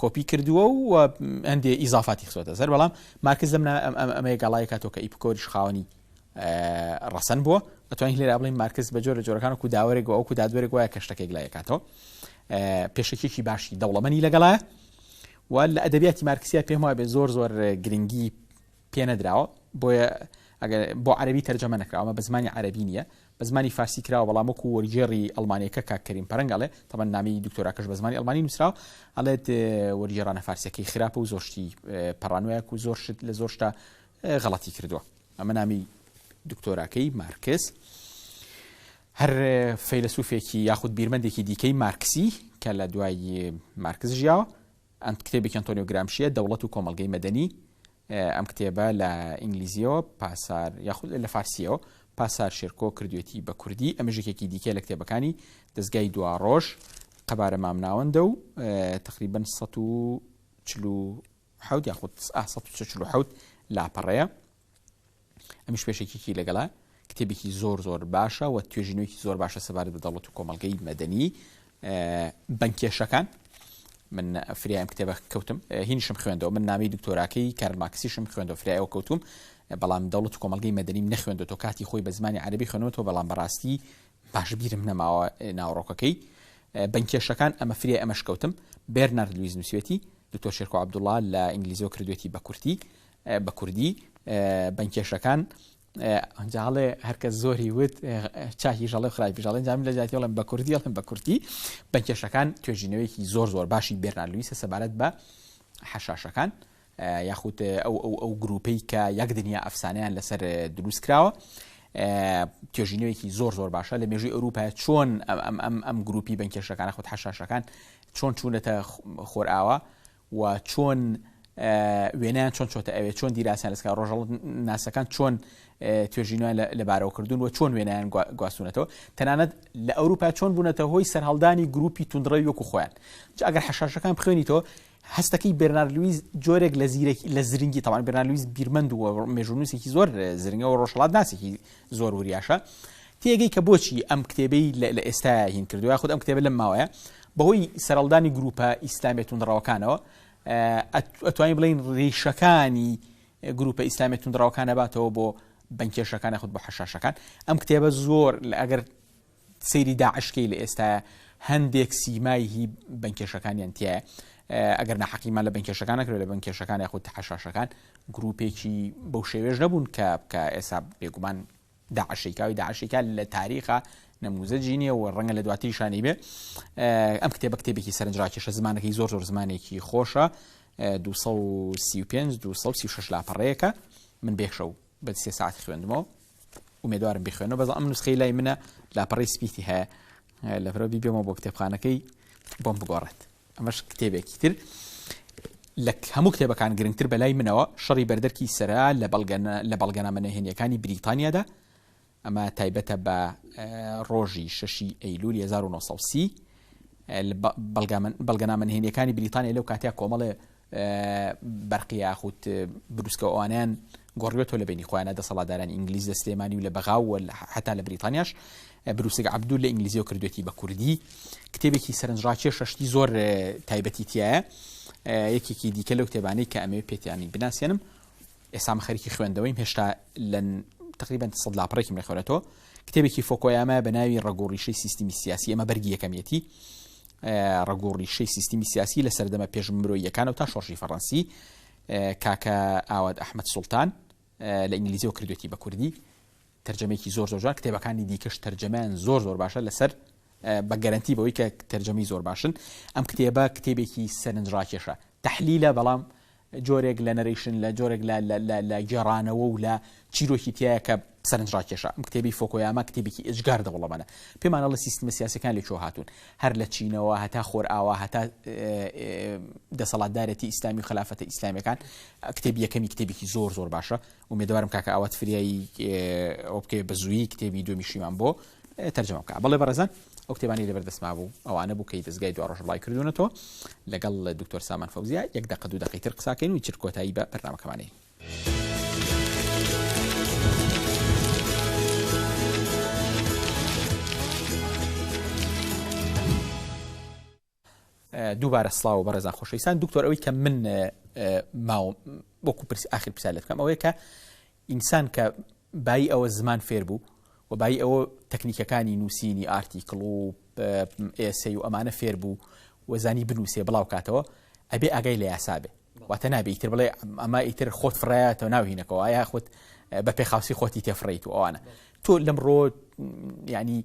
کۆپی کردووە و هەندێ ئیزافاتی خسۆتە سەر بەڵام مارکز لەم ئەمەیە گەڵای کاتۆ کە ئیپکۆریش خاوەنی ڕەسەن بووە ئەتوانین لێرا بڵین مارکز بە جۆرە جۆرەکان و داوەرێک و ئەوکو دادوەرێک وایە کە شتەکێک لای کاتەوە پێشەکێکی باشی دەوڵەمەنی لەگەڵە و لە ئەدەبیاتی مارکسیا پێم وابێ زۆر زۆر گرنگی پێ نەدراوە بۆیە ئەگەر بۆ عەربی تەرجەمە نەکراوە بە زمانی عەربی نییە بە زمانی فارسی کراوە بەڵام وەکو وەرگێڕی ئەڵمانیەکە کاک کەریم پەرەنگ ئەڵێ تەبەن نامی دکتۆراکەش بە زمانی ئەڵمانی نووسراوە ئەڵێت وەرگێڕانە فارسیەکەی خراپە و زۆر شتی پەڕانوەیەک و زۆر شت لە زۆر شتا غەڵەتی کردووە ئەمە نامی دکتۆراکەی مارکس هەر فەیلسوفێکی یاخود بیرمەندێکی دیکەی مارکسی کە لە دوای مارکس ژیاوە ئەم کتێبێکی ئەنتۆنیۆ گرامشییە، دەوڵەت و کۆمەڵگەی مەدەنی، ئەم کتێبە لە ئینگلیزییەوە پاسار یاخود لە فارسییەوە پاسار شێرکۆ کردوێتی بە کوردی، ئەمەش یەکێکی دیکەیە لە کتێبەکانی دەزگای دواڕۆژ، قەبارە مامناوەندە و تەقریبەن سەد و چل و حەوت یاخود ئا سەد و چل و حەوت لاپەڕەیە. ئەمیش پێشەکیکی لەگەڵە کتێبێکی زۆر زۆر باشە و توێژینەوەیکی زۆر باشە سەبارەت بە دەوڵەت و کۆمەلگەی مەدەنی بنکێشەکان من فریایم کتێبە کەوتم هینشم خوێندەوە من نامی دکتۆراکەی کارماکسیشم خوێندەوە فریایەوە کەوتم بەڵام دەوڵەت کۆمەلگەی مەدەنیم نەخوێندە تۆ کاتی خۆی بە زمانی عربی خوێنەوەەوە بەڵام بەڕاستی باشبیرم نەماوە ناوڕۆکەکەی بنکێشەکان ئەمە فریای ئەمەش کەوتم بێرنارد لویز نووسێتی دکتۆر شێرکۆ عبدوڵا لە ئینگلیزیەوە کردوێتی بە کورتی بە کوردی بن کێشەکان ئەنجاڵێ هەرکە زۆری وت چاکی ژەڵێ خراپی ژەڵێن جام لە جاتیڵم بە کوردیڵم بە کورتی بە کێشەکان توێژینەوەیکی زۆر زۆر باشی بێرنالویسە سەبارەت بە حەشاشەکان یاخود ئەو ئەو ئەو گروپەی کە یەک دنیا ئەفسانیان لەسەر دروست کراوە توێژینەوەیکی زۆر زۆر باشە لە مێژوی ئەوروپا چۆن ئەم ئەم ئەم گروپی بەنکێشەکان خود حەشاشەکان چۆن چوونەتە خۆرئاوا و چۆن وێنەیان چۆن چۆتە ئەوێ، چۆن دیراسەیان لەسەر کرا، ڕۆژهەڵات ناسەکان چۆن توێژینویان لەبارەوە کردوون و چۆن وێنەیان گواستونەتەوە، تەنانەت لە ئەوروپا چۆن بوونەتە هۆی سەرهەڵدانی گروپی توندڕەوی وەکو خۆیان. جا ئەگەر حەشاشەکان بخوێنیتەوە، هەستەکەی بێرنارد لویس جۆرێک لە زیرەکی، لە زرنگی، تەبعەن بێرنارد لویس بیرمەند و مێژوونوسێکی زۆر زرنگە و ڕۆژهەڵات ناسێکی زۆر وریاشە، تێگەی کە بۆچی ئەم کتێبەی لە ئێستایا هین کردووە، یاخود ئەم کتێبە لەم ماوەیە بەهۆی سەرەڵدانی گرووپە ئیسلامیە توندڕەوەکانەوە، ئەتوانین بڵێین ریشەکانی گرووپە ئیسلامیە توندڕەوەکان ئەباتەوە بۆ بەنکێشەکان یاخود بۆ حەشاشەکان. ئەم کتێبە زۆر ئەگەر سەیری داعش کەی لە ئێستایە هەندێک سیمای هی بەنکێشەکانیان تایە ئەگەر ناحەقیمان لە بەنکێشەکان نەکرێت لە بەنکێشەکان یاخود حەشاشەکان گروپێکی بەو شێوێش نەبوون کە کە ئێسا بێگومان داعش شیکاوی داعش شیکا لە تاریخا نموزجی نیە و ڕەنگە لە دواتری شانی بێ ئەم کتێبە کتێبێکی سەرنجراکێشە زمانەکەی زۆر زۆر زمانێکی خۆشە 235 236 لاپەڕەیەەکە من بێخشە و بە سێ ساعت خوێندمەوە ومێدوارم بخوێنەوە بەز ئەم نوسخی لای منە لاپەڕی سپیتی هەیە لەبرەوە بیبێمە بۆ کتێبخانەکەی بۆم بگۆڕێت ئەمەش کتێبێکی تر لە هەموو کتێبەکان گرنگتر بەلای منەوە شەڕی بەردەرکی سرا لە بەڵگەنە لە بەڵگەنامە نەهێنیەکانی بریتانیادا ئەمە تایبەتە بە ڕۆژی شەشی ئەیلول 1930 بەڵگەنامە نهێنیەکانی بریتانیا لەو کاتیا کۆمەڵێ بەرقی یاخود بروسکە و ئەوانەیان گۆڕیوەتەوە لە بینی خۆیانە دەسەڵاتدارانی ئینگلیز لە سلێمانی و لە بەغاو و حتا لە بریتانیاش بروسک عبدول لە ئینگلیزیەوە کردوێتی بە کوردی کتێبێکی سەرنجڕاکێ شەشتی زۆر تایبەتی تایە یەکێکی دیکە لەو کتێبانەی کە ئەمێ پێتیانی بناسیێنم ئێسام خەریکی خوێندەوەیم هێشتا لە تقریبا سەد لاپڕێکم لە خوێنێتەوە کتێبێکی فۆکۆیامە بە ناوی ڕگۆڕیشەی سیستمی سیاسی ئەمە بەرگی یەکەمیەتی ڕەگ و ڕیشەی سیستمی سیاسی لە سەردەمە پێش مرۆییەکانەوە تا شۆڕشی فەڕەنسی، کاکە ئاوات ئەحمەد سوڵتان، لە ئینگلیزیەوە کردوێتی بە کوردی، تەرجەمەیەکی زۆر زۆر جوان، کتێبەکانی دیکەش تەرجەمەیان زۆر زۆر باشە لەسەر بە گەرەنتی بەوەی کە تەرجەمەی زۆر باشن، ئەم کتێبە کتێبێکی سەرنجڕاکێشە، تەحلیلە بەڵام جۆرێک لە نەرەیشن، لە جۆرێک لە لە لە لە گێڕانەوە و لە چیرۆکی تیایە کە سەرنجڕاکێشە. ئەم کتێبی فۆکۆیاما کتێبێکی ئێجگار دەوڵەمەنە. پێمان ئەڵێ سیستمە سیاسیەکان لە کوێوە هاتوون. هەر لە چینەوە هەتا خۆرئاوا هەتا دەسەڵاتدارێتی ئیسلامی و خەلافەتە ئیسلامیەکان. کتێبی یەکەمی کتێبێکی زۆر زۆر باشە. ئومێدەوارم کاکە ئاوات فریایی ئەوە بکەوێت بە زوویی کتێبی دووەمی شیمان بۆ تەرجەمە بکە بەڵێ بەڕێزان ئەو کتێبانی لەبەر دەستما بوو ئەوانە بوو کەی دەستگای دو ڕۆژ بڵای کردوونەتەوە لەگەڵ لە دکتۆر سامان فەوزیا یەک دەقە دوو دەقی تر قساکەین و چر کۆتایی بە بەرنمەکەمانەی دووبارە سڵاو بەڕێزان خۆشەویستان دکتۆر ئەوەی کە من ماوم وەکو پرسی ئاخر پرسیار لێت بکەم ئەوەیە کە ئینسان کە بای ئەوە زمان فێر بوو و بای ئەوە تەکنیکەکانی نووسینی ئارتیکڵ و ئێسی و ئەمانە فێر بوو وەزانی بنووسێ بڵاو کاتەوە ئەبێ ئاگای لە یاسابێ واتە نابێ ئیتر بڵێ ئەمە ئیتر خۆت فڕایەتەوە ناوهینەکەەوە یا خۆت بە پێخاوسی خۆتی تێفڕیت و ئەوانە تۆ لەم ڕۆ ینی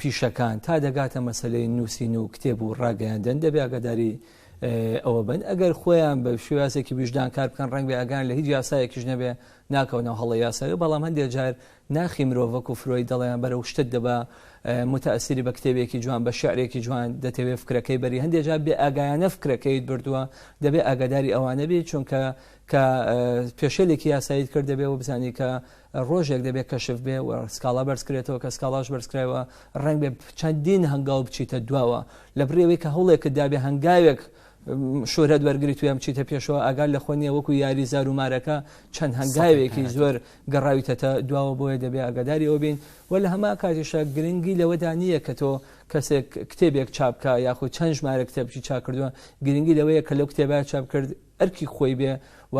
پیشەکان تا دەگاتە مەسەلەی نووسین و کتێب و ڕاگەیاندن دەبێ ئەگەداری ئەوە بن ئەگەر خۆیان بە شێوازێکی ویژدان کار بکەن ڕەنگ بێ ئەگەیان لە هیچ یاسایەکیش نەبێ ناکەونەوە هەڵە یاساوی بەڵام هەندێک جار ناخی مرۆڤک و فرۆی دەڵیان بەرە و شتت دەبا متەسیری بە کتێبێکی جوان بە شعرێکی جوان دەتەوێت فکرەکەی بەری هەندێک جار بێ ئاگایانە فکرەکەیت بردووە دەبێ ئاگاداری ئەوانە بێت چونکە کە پێشێلێکی یاساییت کرد دەبێ و بزانانی کە ڕۆژێک دەبێت کەشف بێ و سکاڵا بەرز کرێتەوە کە سکاڵاش بەرز کرایەوە ڕەنگ بێ چەندین هەنگاو بچیتە دواوە لە بڕێوەی کە هەوڵێکت دابێ هەنگاوێک شۆرەت وەرگری توێم چیتە پێشەوە ئەگەر لە خۆنیە وەکو یاری زار و مارەکە چەند هەنگاوێکی زۆر گەڕاویتەتە دواوە بۆیە دەبێ ئەگەداری ئەو بین و لە هەما کاتیشە گرنگی لەوەدا نییە کە تۆ کەسێک کتێبێک چاپکە یاخود چەند ژمارە کتێبی چاکردووە گرنگی لەوەیە کە لەو کتێبە چاپ کرد ئەرکی خۆی بێ و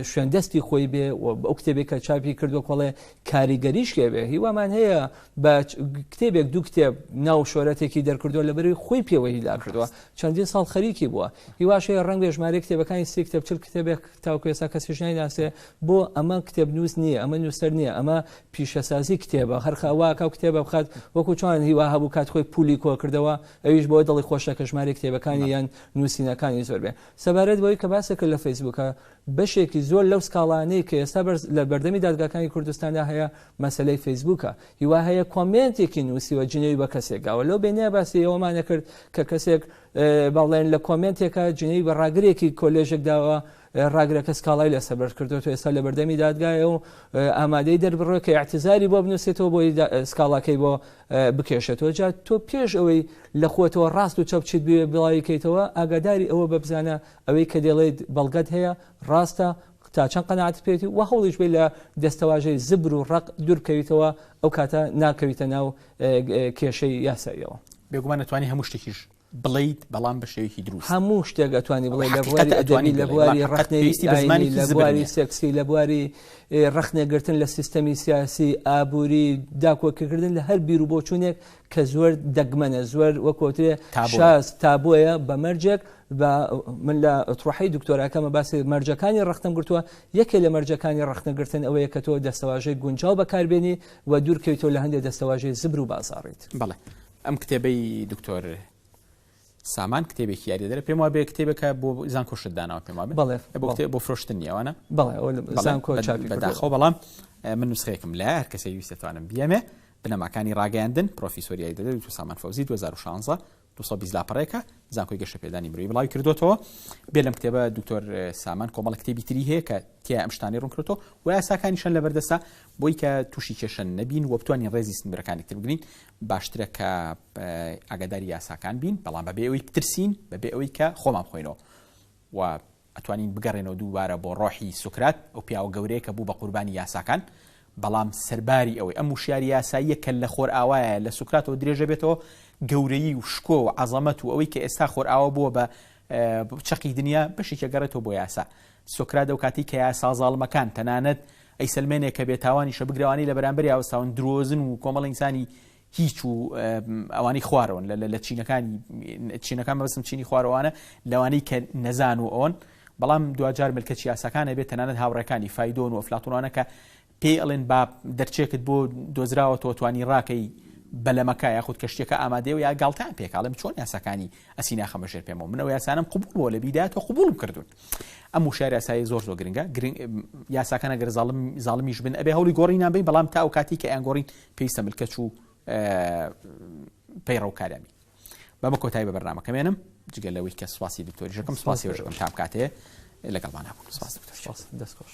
شوێن دەستی خۆی بێ و ئەو کتێبێک کە چاپی کردو کۆڵێ کاریگەریش لێبێ هیوامان هەیە بە کتێبێک دوو کتێب ناو شۆرەتێکی دەرکردووە لە بەروی خۆی پێوە هیلا کردووە چەندین ساڵ خەریکی بووە هیواشەیە ڕنگ ژمارە کتێبەکانی سی کتێب چل کتێبێک تاوکو ێسا کەسیشنای ناسێ بۆ ئەمە کتێب نووس نییە ئەمە نووسەر نییە ئەمە پیشەسازی کتێبە هەرخەواکە کتێبە بخات وەکو چۆن هیوا هەبوو کات خۆی پولی کۆ کردەوە ئەویش بۆ دڵی خۆشە کە ژمارەی کتێبەکانی یان نووسینەکانی زۆر بێ. سەبارەت بەوەی کە باسێ کرد لە فەیسبووکە، بەشێکی زۆر لەو سکاڵانەی کە ئێستا لە بەردەمی دادگاکانی کوردستاندا هەیە، مەسەلەی فەیسبووکە. هی وا هەیە کۆمێنتێکی نووسیوە جنێوی بە کەسێک گاوە. لەو بێنیە باسی ئەوەمانە کرد کە کەسێک با بڵێن لە کۆمێنتێکا جنێوی بە ڕاگرێکی کۆلێژێک داوە، ڕاگرەکە سکاڵای لەسەر بەرز کردووە تۆ ئێستا لە بەردەمی دادگایە و ئامادەی دەربڕۆ کە یاعتزاری بۆ بنووسێتەوە بۆی سکاڵاکەی بۆ بکێشێتەوە جا تۆ پێش ئەوەی لە خۆتەوە ڕاست و چەپچیت بێ بڵاویکەیتەوە ئاگاداری ئەوە بەبزانە ئەوەی کە دێڵێت بەڵگەت هەیە ڕاستە تا چەند قەنەعات پێێتی و هەوڵیش بێ لە دەستەواژەی زبر و ڕق دوورکەویتەوە ئەو کاتە ناکەویتە ناو کێشەی یاساییەوە بێگومان نتوانانی هەموو شتێکیش بڵێیت بەڵام بە شێوەیەکی دروست. هەموو شتێک ئەتوانی بڵێ لە بواری ئەدەبی لە بواری ڕەخنەی ئایینی لە بواری سێکسی لە بواری ڕەخنەگرتن لە سیستەمی سیاسی ئابووری داکۆکیکردن لە هەر بیر و بۆچوونێک کە زۆر دەگمەنە زۆر وەکۆترێ شاز تابۆیە بە مەرجێک من لە تڕحی دکتۆراکەمە باسی مەرجەکانی ڕختم گرتووە یەکێ لە مەرجەکانی ڕختنەگرتن ئەوەیە کە تۆ دەستەواژەی گونجاو بەکاربێنی و دوورکەویتەوە لە هەندێک دەستەواژەی زبر و بازاڕیت بڵێ ئەم کتێبەی دکتۆر سامان کتێبێکی یاریدەرە پێم وا بێ کتێبەکە بۆ زانکۆ شت داناوە پێم وا بڵێ بۆ کتێب بۆ فرۆشتن نیەوانە بەڵێزانکۆداخۆ بەڵام من نوسخێکم لە هەر کەسی ویستێتوانم بیەمێ بنەماکانی ڕاگەیاندن پرۆفیسۆریای دەدەێت تو سامان فەوزی 2016 دوبیست لاپەڕێکە زانکۆی گەشە پێدانی مروی بڵاوی کردوێتەوە بێ لەم کتێبە دکتۆر سامان کۆمەڵە کتێبی تری هەیە کە تیا ئەم شتانی ڕوونکردەوە و یاساکانیشان لە بەردەسا بۆی کە تووشی کێشە نەبین و بتوانین ڕێزی سنبرەکانی تر بگرین باشترە کە ئاگاداری یاساکان بین بەڵام بەبێ ئەوی بترسین بەبێ ئەوەی کە خۆمان بخۆینەوە و ئەتوانین بگەڕێنەوە دووبارە بۆ ڕۆحی سوکرات ئەو پیاوە گەورەیە کە بوو بە قوربانی یاساکان بەڵام سەرباری ئەوەی ئەم وشیاری یاساییە کە لە خۆر ئاوایە لە سوکراتەوە درێژە بێتەوە گەورەیی و شکۆ و عەزەمەت و ئەوەی کە ئێستا خۆر ئاوە بووە بە چەقی دنیا بەشێکە گەڕێتەوە بۆ یاسا سۆکرات ئەو کاتەی کە یاسا زاڵمەکان، تەنانەت ئەیسەلمێنێ کە بێتاوانیشە، بگرە ئەوانەی لە بەرامبەری ئاوساون درۆزن و کۆمەڵە ئینسانی هیچ و ئەوانەی خوارەوەن لە لە چینەکانی چینەکان مەبەستم چینی خوارەوانە لەوانەی کە نەزان و ئەوەن بەڵام دواجار ملکەچی یاساکان ئەبێت تەنانەت هاوڕێکانی فایدۆن و ئەفلاتوونانە کە پێی ئەڵێن با دەرچێکت بۆ دۆزراوەتەوە توانی ڕاکەی بەلەمەکە یاخود کەشتەکە ئامادەەوە یا گاڵتان پێکاڵم چۆن یاساکانی ئەسی ناخەمە ژێر پێمەوە منەوە یاسانم قوبول بۆ لە بیدات و قوبولم کردوون ئەم وشار یاسایی زۆر زۆر گرنگە گرنگ یاساکانە گەر زاڵم زاڵمیش بن ئەبێ هەوڵی گۆڕینان بین بەڵام تا ئەو کاتی کە ئەیان گۆڕین پێویستە ملکەچ و پەیڕەوکارامی بەمە کۆتای بە بەرنمەکەمێنم جگە لەوەی کە سواسی دکتۆری ژەکەم سواسی ژەکەم تام کاتێ لەگەڵمان هەبوو سواس دکتۆر دەستخۆش